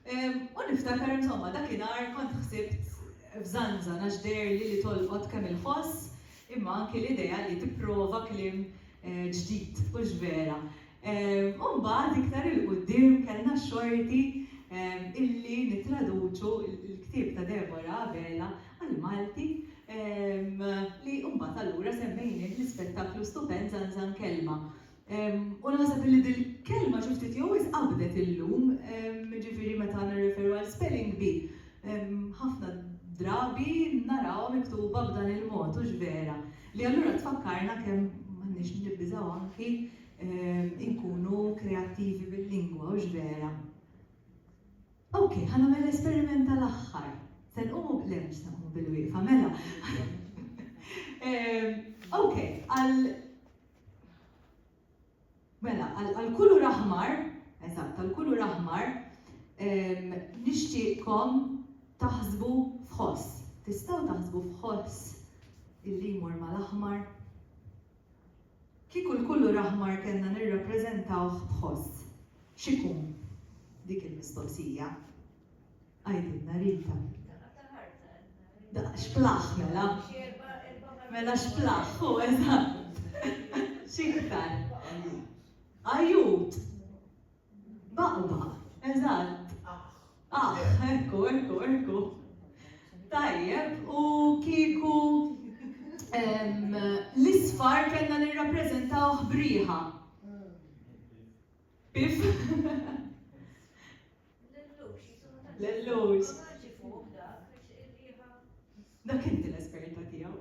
U niftakar insomma dakinhar kont ħsibt f'żanżan għax deherli li tolqot kemm il-ħoss imma anki l-idea li tipprova kliem ġdid, hux vera. U mbagħad iktar 'il quddiem kellna x-xorti illi nittraduċu l-ktieb ta' Deborah Abela għall-Malti li mbagħad allura semmejnieh l-ispettaklu stupend Żanżan Kelma. U naħseb illi dil-kelma xi ftit jew wisq qabdet illum, jiġifieri meta nirreferu għal spelling bee, ħafna drabi narawha miktuba b'dan il-mod, hux vera? Li allura tfakkarna kemm m'għandniex nibżgħu anki inkunu kreattivi bil-lingwa, hux vera? Ok, ħa nagħmel l-esperiment tal-aħħar. Se nqumu, le mhux se nqumu bilwieqfa, mela. Ok, għal Mela, għal għal kulur aħmar, eżatt, għal kulur aħmar, ehm, nixtieqkom taħsbu f'ħoss. Tistgħu taħsbu f'ħoss illi jmur mal-aħmar? Kieku l-kulur aħmar kellna nirrappreżentawh b'ħoss, x'ikun? Dik il-mistoqsija. Għidilna Rita. Xplaħ mela. Mela xplaħ, hu eżatt. Xiktar. Ajut. Baqba, eżatt. Ah, ekku, ekku, ekku. Tajjeb, u kieku l-isfar kellna nirrappreżentaw ħbriħa. Pif? L-lux. Dak inti l-esperta tiegħu.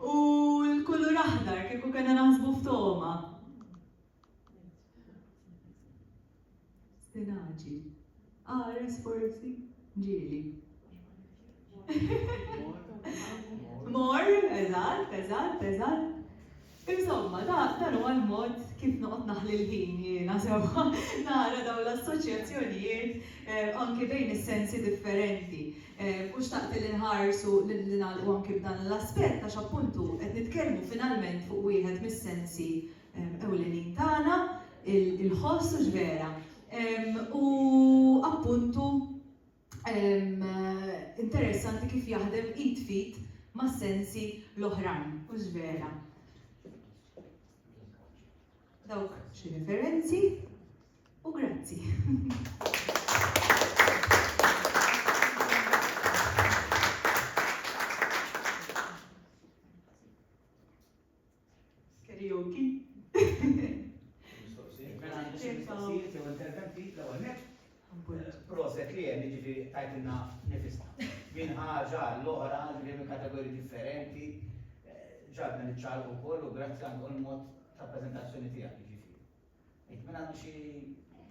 U l-kulur aħdar kieku kena naħsbu f'toma. Stinaġi. Qares forsi? Ġieli. Mor, eżatt, eżatt, eżatt. Insomma, dan huwa l-mod kif noqgħod naħli l-ħin jiena sewwa nara dawn l-assoċjazzjonijiet eh, anki bejn is-sensi differenti. Eh, u xtaqt li nħarsu li nagħlqu anki b'dan l-aspett għax appuntu qed nitkellmu finalment fuq wieħed mis-sensi ewlenin tagħna, il-ħoss hux vera. U appuntu interessanti kif jaħdem id f'id mas-sensi l-oħrajn, hux vera? Dawk xi referenzi u grazzi. Skerioki. Mistoqsijiet? Mela għandi xi mistoqsijiet jew interventi l-ewwel nett. Proset li hemm jiġifieri tajtilna nifisna. Minn ħaġa għall-oħra ġifieri minn kategoriji differenti ġagħaltna niċċaqalqu wkoll u grazzi anke għall-mod ta' preżentazzjoni tiegħek jiġifieri. Jekk min għandu xi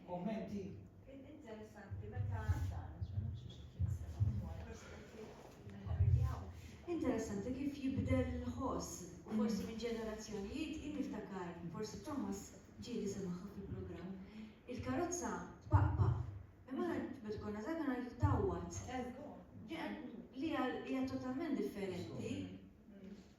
kummenti. Interessanti meta Interessanti kif jibdel il-ħoss u forsi minn ġenerazzjonijiet jien niftakar forsi Thomas ġieli semaha fil-programm. Il-karozza tpaqpa' imma aħna meta konna żgħar konna ngħidu tgħawwad. Li hija totalment differenti.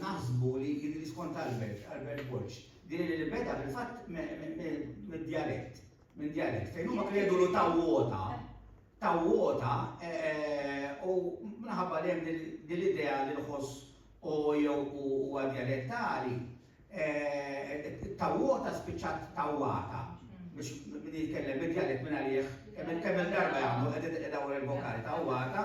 Naħsbu li kien li skont Albert, Albert Borg, din li beda fil-fatt mid-djalett, minn djalett, fejn huma kienu jgħidulu tawwota, tawwota, u minħabba li hemm din l-idea li l-ħoss u jew huwa djalettali, tawwota spiċċat tawwata biex min jitkellem id-djalett minn għalih kemm-il darba jagħmlu qed idawwar il-vokali tawwata,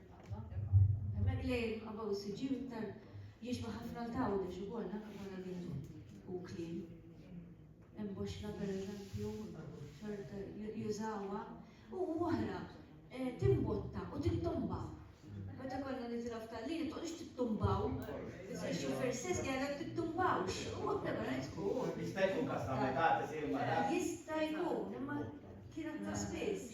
Hemmhekk li qabgħu s-siġġiew iktar jiġba ħafna l-Għawdex ukoll naf li konna din u kliem. Hemm boxla pereżempju, xorta jużawha u oħra eh, timbotta u tittomba. Meta konna nitila f'tallin, toqgħodx tittumbaw. Ix-xufier stess jgħidlek tittumbawx. U għabda ma tkun. Jista' jkun każ ta' metà tisir mara. Jista' jkun, imma kienet ta' spiss.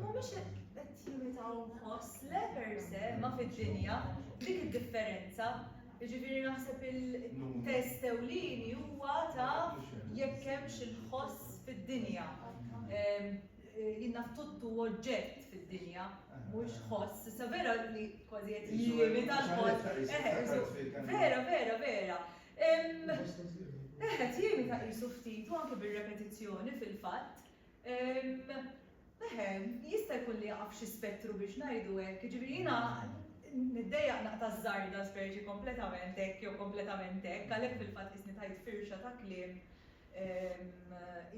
Mhumiex hekk qed jimitaw inħoss l-Evers, eh, ma fid-dinja, dik id-differenza. Jiġifieri naħseb il-test ewlieni huwa ta' jekk hemmx il-ħoss fid-dinja. Ehm, eh, jien naf tuttu oġġett fid-dinja, mhux ħoss. Issa vera li kważi qed jimita l-ħoss. Eh, eh, vera, vera, vera. Ehm, Eħet, jimita qisu ftit, u anke bir-repetizzjoni fil-fatt. Ehem, jista' jkun li jaqa' f'xi spettru biex ngħidu hekk. Jiġifieri jiena niddejjaq naqta' ż-żarda speċi kompletament hekk jew kompletament hekk, għalhekk fil-fatt qisni tajt firxa ta' kliem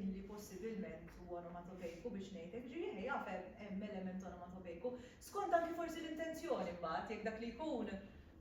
illi possibilment hu onomatopejku biex ngħid hekk. Jiġifieri eħe jaf hemm element onomatopejku. Skont anki forsi l-intenzjoni mbagħad, jekk dak li jkun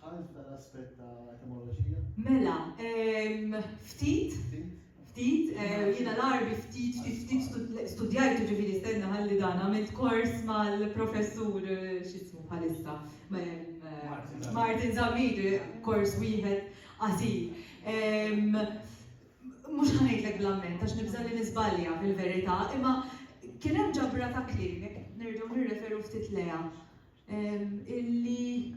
Dħalt f'dan l-aspett ta' etimoloġija? Mela, ehm, ftit, ftit, jiena l-Għarbi ftit, ftit, ftit studjajtu ġifieri stenna ħalli dan, għamilt kors mal-professur x'ismu bħalissa, Martin Zammit, kors wieħed qasir. Ehm, mhux ħa ngħidlek bl-amment għax nibża' li niżbalja fil-verità, imma kien hemm ġabra ta' kliem, jekk nerġgħu nirreferu ftit lejha. illi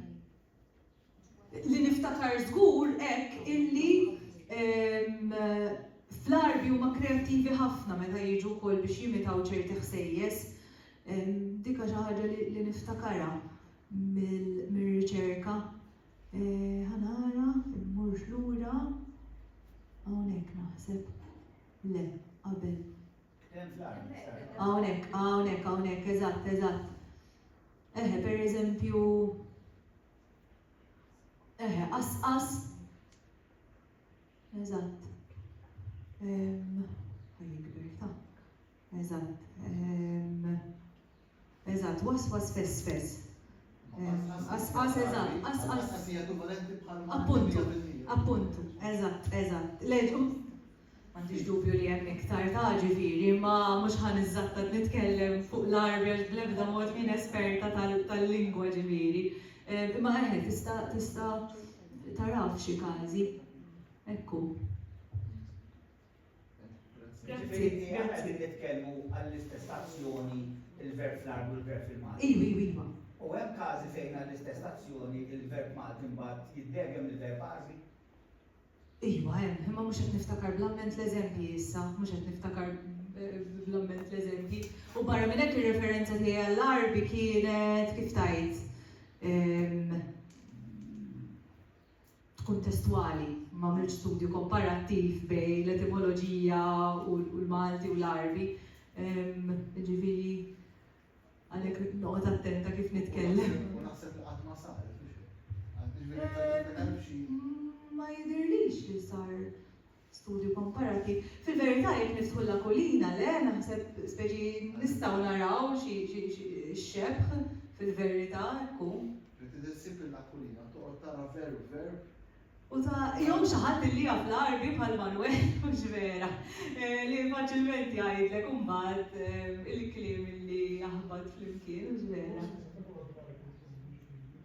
li niftakar żgur hekk illi fl-Għarbi huma kreattivi ħafna meta jiġu wkoll biex jimitaw ċerti ħsejjes. Dika xi ħaġa li niftakarha mir-riċerka. Ħanara, immurx lura, hawnhekk naħseb. Le, qabel. Hawn hekk, hawn hekk, hawn hekk, eżatt, eżatt. Eħe, pereżempju, eħe, qasqas. Eżatt. Ħajjikber ta'. Eżatt. Eżatt, waswas fess fess. Qasqas eżatt, qasqas. Appuntu, appuntu, eżatt, eżatt. Le ġu, m'għandix dubju li hemm iktar ta' ġifieri, ma mhux ħa niżżatta nitkellem fuq l-Għarbi għax bl-ebda mod minn esperta tal-lingwa ġifieri. Eh, imma eħe, tista' tista' taraf xi każi. Ekku. Ġifieri aħna qegħdin nitkellmu għall-istess azzjoni il-verb fl-arbu l-verb fil-Malti. Iva, iva, iva. U hemm każi fejn għall-istess azzjoni il-verb Malti mbagħad jiddegem il-verb Għarbi? Iva hemm, imma mhux qed niftakar bl-amment l-eżempji issa, mhux qed niftakar bl-amment l-eżempji. U barra minn hekk ir-referenza tiegħi għall-Għarbi kienet kif tajt. tkun testwali, m'għamiltx studju komparattiv bejn l-etimoloġija u l-Malti u l-Għarbi, jiġifieri għalhekk noqgħod attenta kif nitkellem. U naħseb li qatt ma saret, mhux hekk? Ma jidhirlix li sar studju komparattiv. Fil-verità jekk niftħu l-Akulina, le, naħseb speċi nistgħu naraw xi xebħ fil-verità hekk hu. Li trid issib lill-Akulina toqgħod tara veru verb. U ta' jew xi ħadd li jaf l-Għarbi bħal Manwel mhux vera, li faċilment jgħidlek imbagħad il-kliem li jaħbat flimkien mhux vera.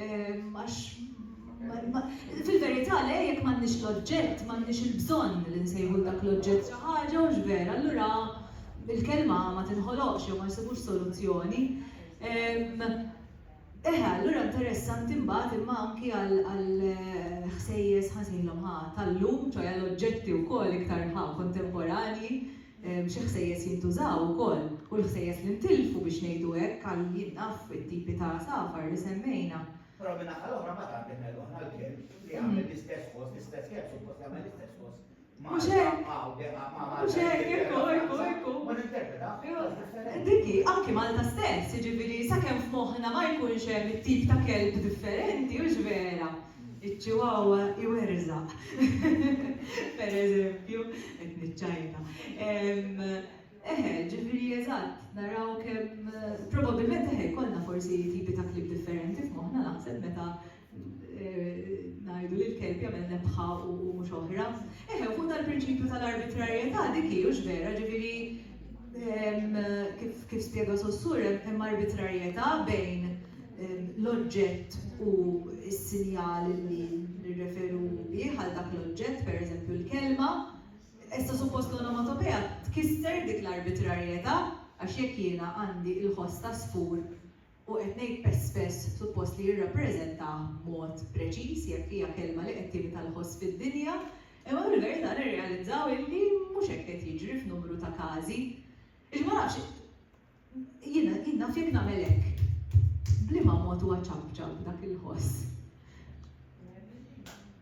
Għax fil-verità le, jekk m'għandniex l-oġġett, m'għandniex il-bżonn li nsejħu 'l dak l-oġġett xi ħaġa, hux vera? Allura il-kelma ma tinħoloqx jew ma jsibux soluzzjoni. Eħe, allura interessanti mbagħad imma anki għall-ħsejjes, ħa nsejħilhom ħa, tal-lum, ċoe għall-oġġetti wkoll iktar ħa kontemporanji, xi ħsejjes jintużaw ukoll u l-ħsejjes li ntilfu, biex ngħidu hekk, għal jien naf it-tipi ta' għasafar li semmejna. Però min-naħa l-oħra mbagħad għandek lil Don Alvin li jagħmel l-istess ħoss, l-istess kemm suppost jagħmel l-istess ħoss Malta hawn de a ma' Malta l-Ingilterra u ninterpreta b'mod differenti. Dik hi, anki Malta stess, jiġifieri sakemm f'moħħna ma jkunx hemm it-tip ta' kelb differenti, hux vera? Iċ-Chihuahua iwerżaq, per eżempju, qed niċċajta. Eħe, ġifieri eżatt, naraw kemm, probabbilment eħe jkollna forsi tipi ta' klieb differenti f'moħħna naħseb meta ngħidu li l-kelb jagħmel nebħa u mhux oħra. Eħe, u fuq dal-prinċipju tal-arbitrarjetà dik hi, hux vera? Ġifieri Kif spjega Saussure, hemm arbitrarjetà bejn l-oġġett u s-sinjal li nirreferu bih għal dak l-oġġett, pereżempju l-kelma. Issa suppost l-onomatopea tkisser dik l-arbitrarjetà għax jekk jiena għandi l-ħoss ta' sfur, u qed ngħid pest spess suppost li jirrappreżentah b'mod preċiż jekk hija kelma li qed timita l-ħoss fid-dinja, imma fil-verità nirrealizzaw illi mhux hekk qed jiġri f'numru ta' każi. Jiġifieri ma nafx, jien jien naf jekk nagħmel hekk, b'liema mod huwa ċapċap dak il-ħoss.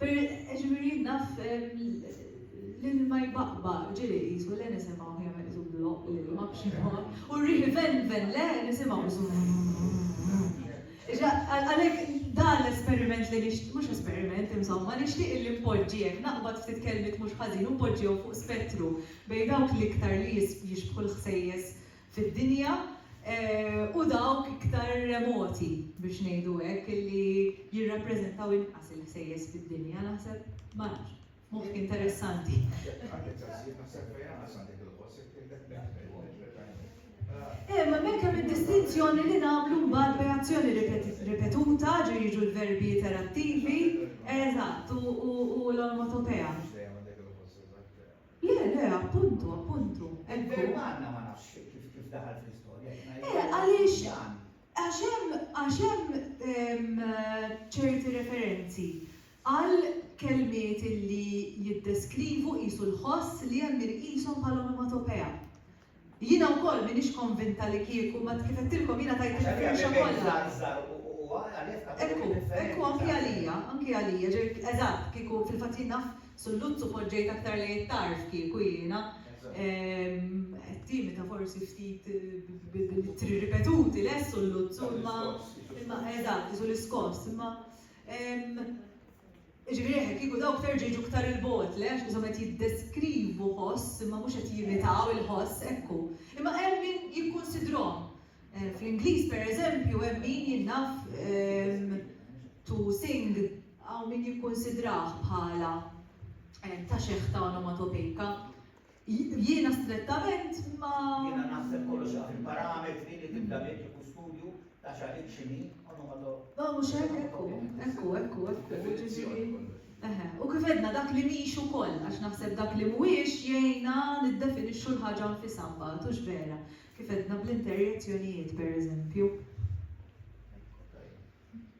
Per, ġifieri naf l-ilma jbaqba, ġieli qisu le nisimgħuh jagħmel qisu bloqq l-ilma b'xi mod, u r-riħ ivenven le nisimgħu qisu Għalhekk dan l-esperiment li nixtieq, mhux esperiment insomma, nixtieq illi npoġġi hekk, naqbad ftit kelmiet mhux ħażin u npoġġihom fuq spettru bejn dawk l-iktar li jixbħu l-ħsejjes fid-dinja u dawk iktar remoti, biex ngħidu hekk, li jirrappreżentaw inqas il-ħsejjes fid-dinja, naħseb, ma nafx, moħħ interessanti. Għandek daqsxejn, naħseb fejn anqas għandek il-ħoss, jekk tgħidlek netfel, netfel għajnek. Eh, ma hemmhekk hemm id-distinzjoni li nagħmlu mbagħad bejn azzjoni ripetuta, ġu jiġu l-verbi iterattivi, eżatt, u l-onomatopea. Le, le, appuntu, appuntu. Il-Verb għandna ma nafx kif daħal fl-istorja, qed ngħid. Eh, għaliex, għax hemm, għax hemm ċerti referenzi għal kelmiet li jiddeskrivu qisu l-ħoss li hemm min iqishom bħala onomatopea. Jiena wkoll m'iniex konvinta li kieku ma kif għedtilkom jiena tajt il-firxa kollha. Ekku, ekku anki għalija, anki għalija, ġifieri eżatt, kieku, fil-fatt jien naf Sulluzzu poġġejt aktar lejn it-tarf kieku jiena. Qed timita forsi ftit bl-ittri ripetuti, le Sulluzzu, imma, imma, eżatt, isu l-iskoss, imma, Jiġifieri hekk, kieku dawk terġa' jiġu iktar 'il bogħod, le, għax ishom qed jiddeskrivu ħoss imma mhux qed jimitaw il-ħoss, ekku. Imma hemm min jikkunsidrhom. Fl-Ingliż, per eżempju, hemm min jien naf to sing hawn min jikkunsidrah bħala ta' xeħta onomatopejka. Jiena strettament ma. Jiena naħseb kollox jaqaf il-parametri li tibda bih il-kustudju ta' xi ħin xi ħin onomatopeja u. Le mhux hekk, hekk hu, hekk hu, hekk hu, hekk hu, jiġifieri. Eħe, u kif għedna dak li mhix ukoll, għax naħseb dak li mhuwiex jgħinna niddefinixxu l-ħaġa nfisha mbagħad, hux vera? Kif għedna bl-interjezzjonijiet, pereżempju.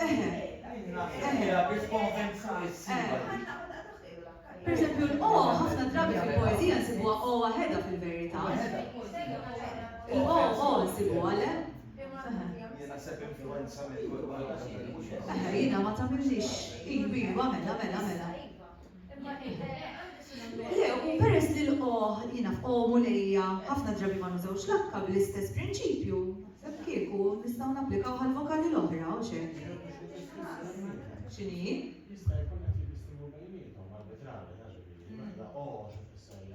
Eħe. Eħe. Per eżempju, l-'o' ħafna drabi fil-poeżija nsibuha 'o' waħedha fil-verità. Il-'o' 'o' nsibuha, le? Eħe, jiena ma tagħmillix. Iva, iva, mela, mela, mela. Le, u peress li l-qoh, jiena f'qohom u lejja, ħafna drabi ma nużawx l-akka bl-istess prinċipju, naħseb kieku nistgħu napplikawh għall-vokali l-oħra, hux hekk? X'inhi? Jista' jkun qed jibissmu bejniethom arbitrarja, jiġifieri, mela, qoh xi tfisser li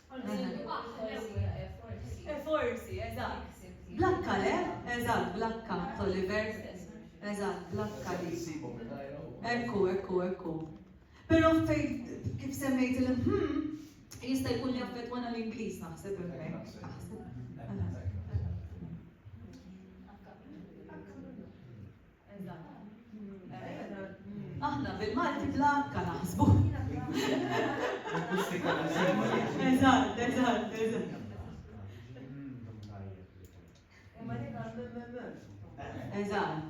E forsi, eżatt. Blakka le? Eżatt, blakka, Toliver. Eżatt, blakka li. Ekku, ekku, ekku. Però fejn kif semmejt il-hm, jista' jkun li affettwana l-Ingliż naħseb hemmhekk. Aħna bil-Malti bla akka naħsbu. Eżatt, eżatt, eżatt. Eżatt.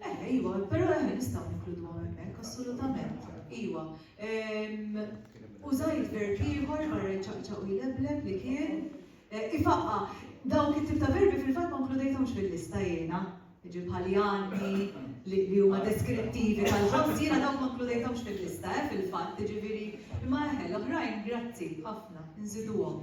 Eħe, iwa, pero eħe nistgħu ninkluduhom hemmhekk, assolutament. Iwa. Ehm, użajt verb ieħor barra jċaqċaq u jlebleb li kien eh, ifaqqa. Dawk it-tip ta' verbi fil-fatt ma nkludejthomx fil-lista jiena. Ġi bħal jani li huma deskrittivi tal-ħoss jiena dawk ma nkludejthomx fil-lista eh, fil-fatt, ġifieri imma eħe l-oħrajn grazzi ħafna, nżiduhom.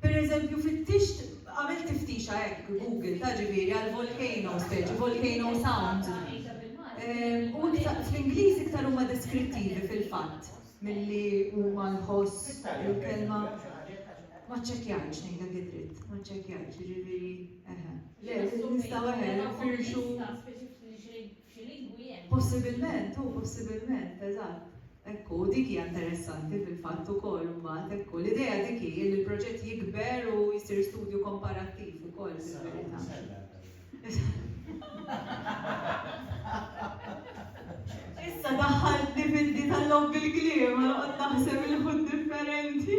Per eżempju, fittixt, għamil tiftixa hekk Google ta' ġifieri għal volcano, speċi volcano sound. Ehm, u iktar fl-Ingliż iktar huma deskrittivi fil-fatt milli huma nħoss il-kelma. Ma ċċekkjajx ngħidha gidrit, ma ċċekkjajx, ġifieri eħe. Le, nistgħu eħe, firxu. Xi lingwi hemm? Possibilment, hu, possibilment, eżatt. Hekk hu, dik hija interessanti fil-fatt ukoll imbagħad, hekk hu. L-idea dik hi li l-proġett jikber u jsir studju komparattiv ukoll fil-verità. Is-sena li jmiss għandha din. Issa daħħaltni fil-di tal-logħob bil-kliem, noqgħod naħseb il-ħut differenti.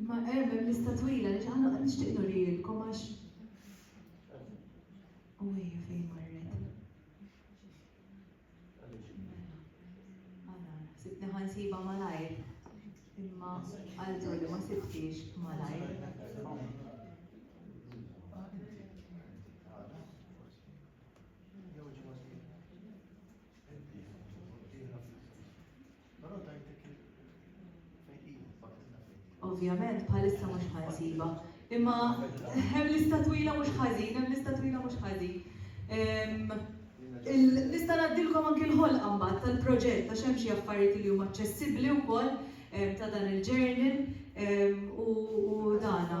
Imma erm hemm lista twila li ġaħna qed nixtieq nurilkom għax. U hija fejn marret. Mela, sibni ħansiba malajr. Imma għaltu li ma sibtix malajr. Però tajtek il fejn iva, fakkirna fejn hi. Ovvjament bħalissa mhux ħa nsibha. Imma hemm lista twila mhux ħażin, hemm lista twila mhux ħażin. Nista' ngħaddilkom anki l-ħolqa mbagħad tal-proġett għax hemm xi affarijiet li huma aċċessibbli wkoll ta' dan il-journal u dana.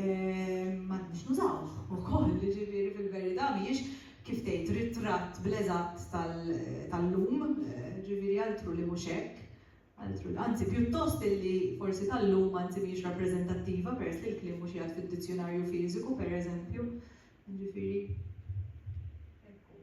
m'għandniex nużawh ukoll, jiġifieri fil-verità mhijiex kif tgħid ritratt bl-eżatt tal-lum, jiġifieri altru li mhux hekk, altru anzi pjuttost li forsi tal-lum anzi mhijiex rappreżentattiva peress li l-kliem mhux qiegħed fid-dizzjunarju fiżiku pereżempju, jiġifieri hekk hu.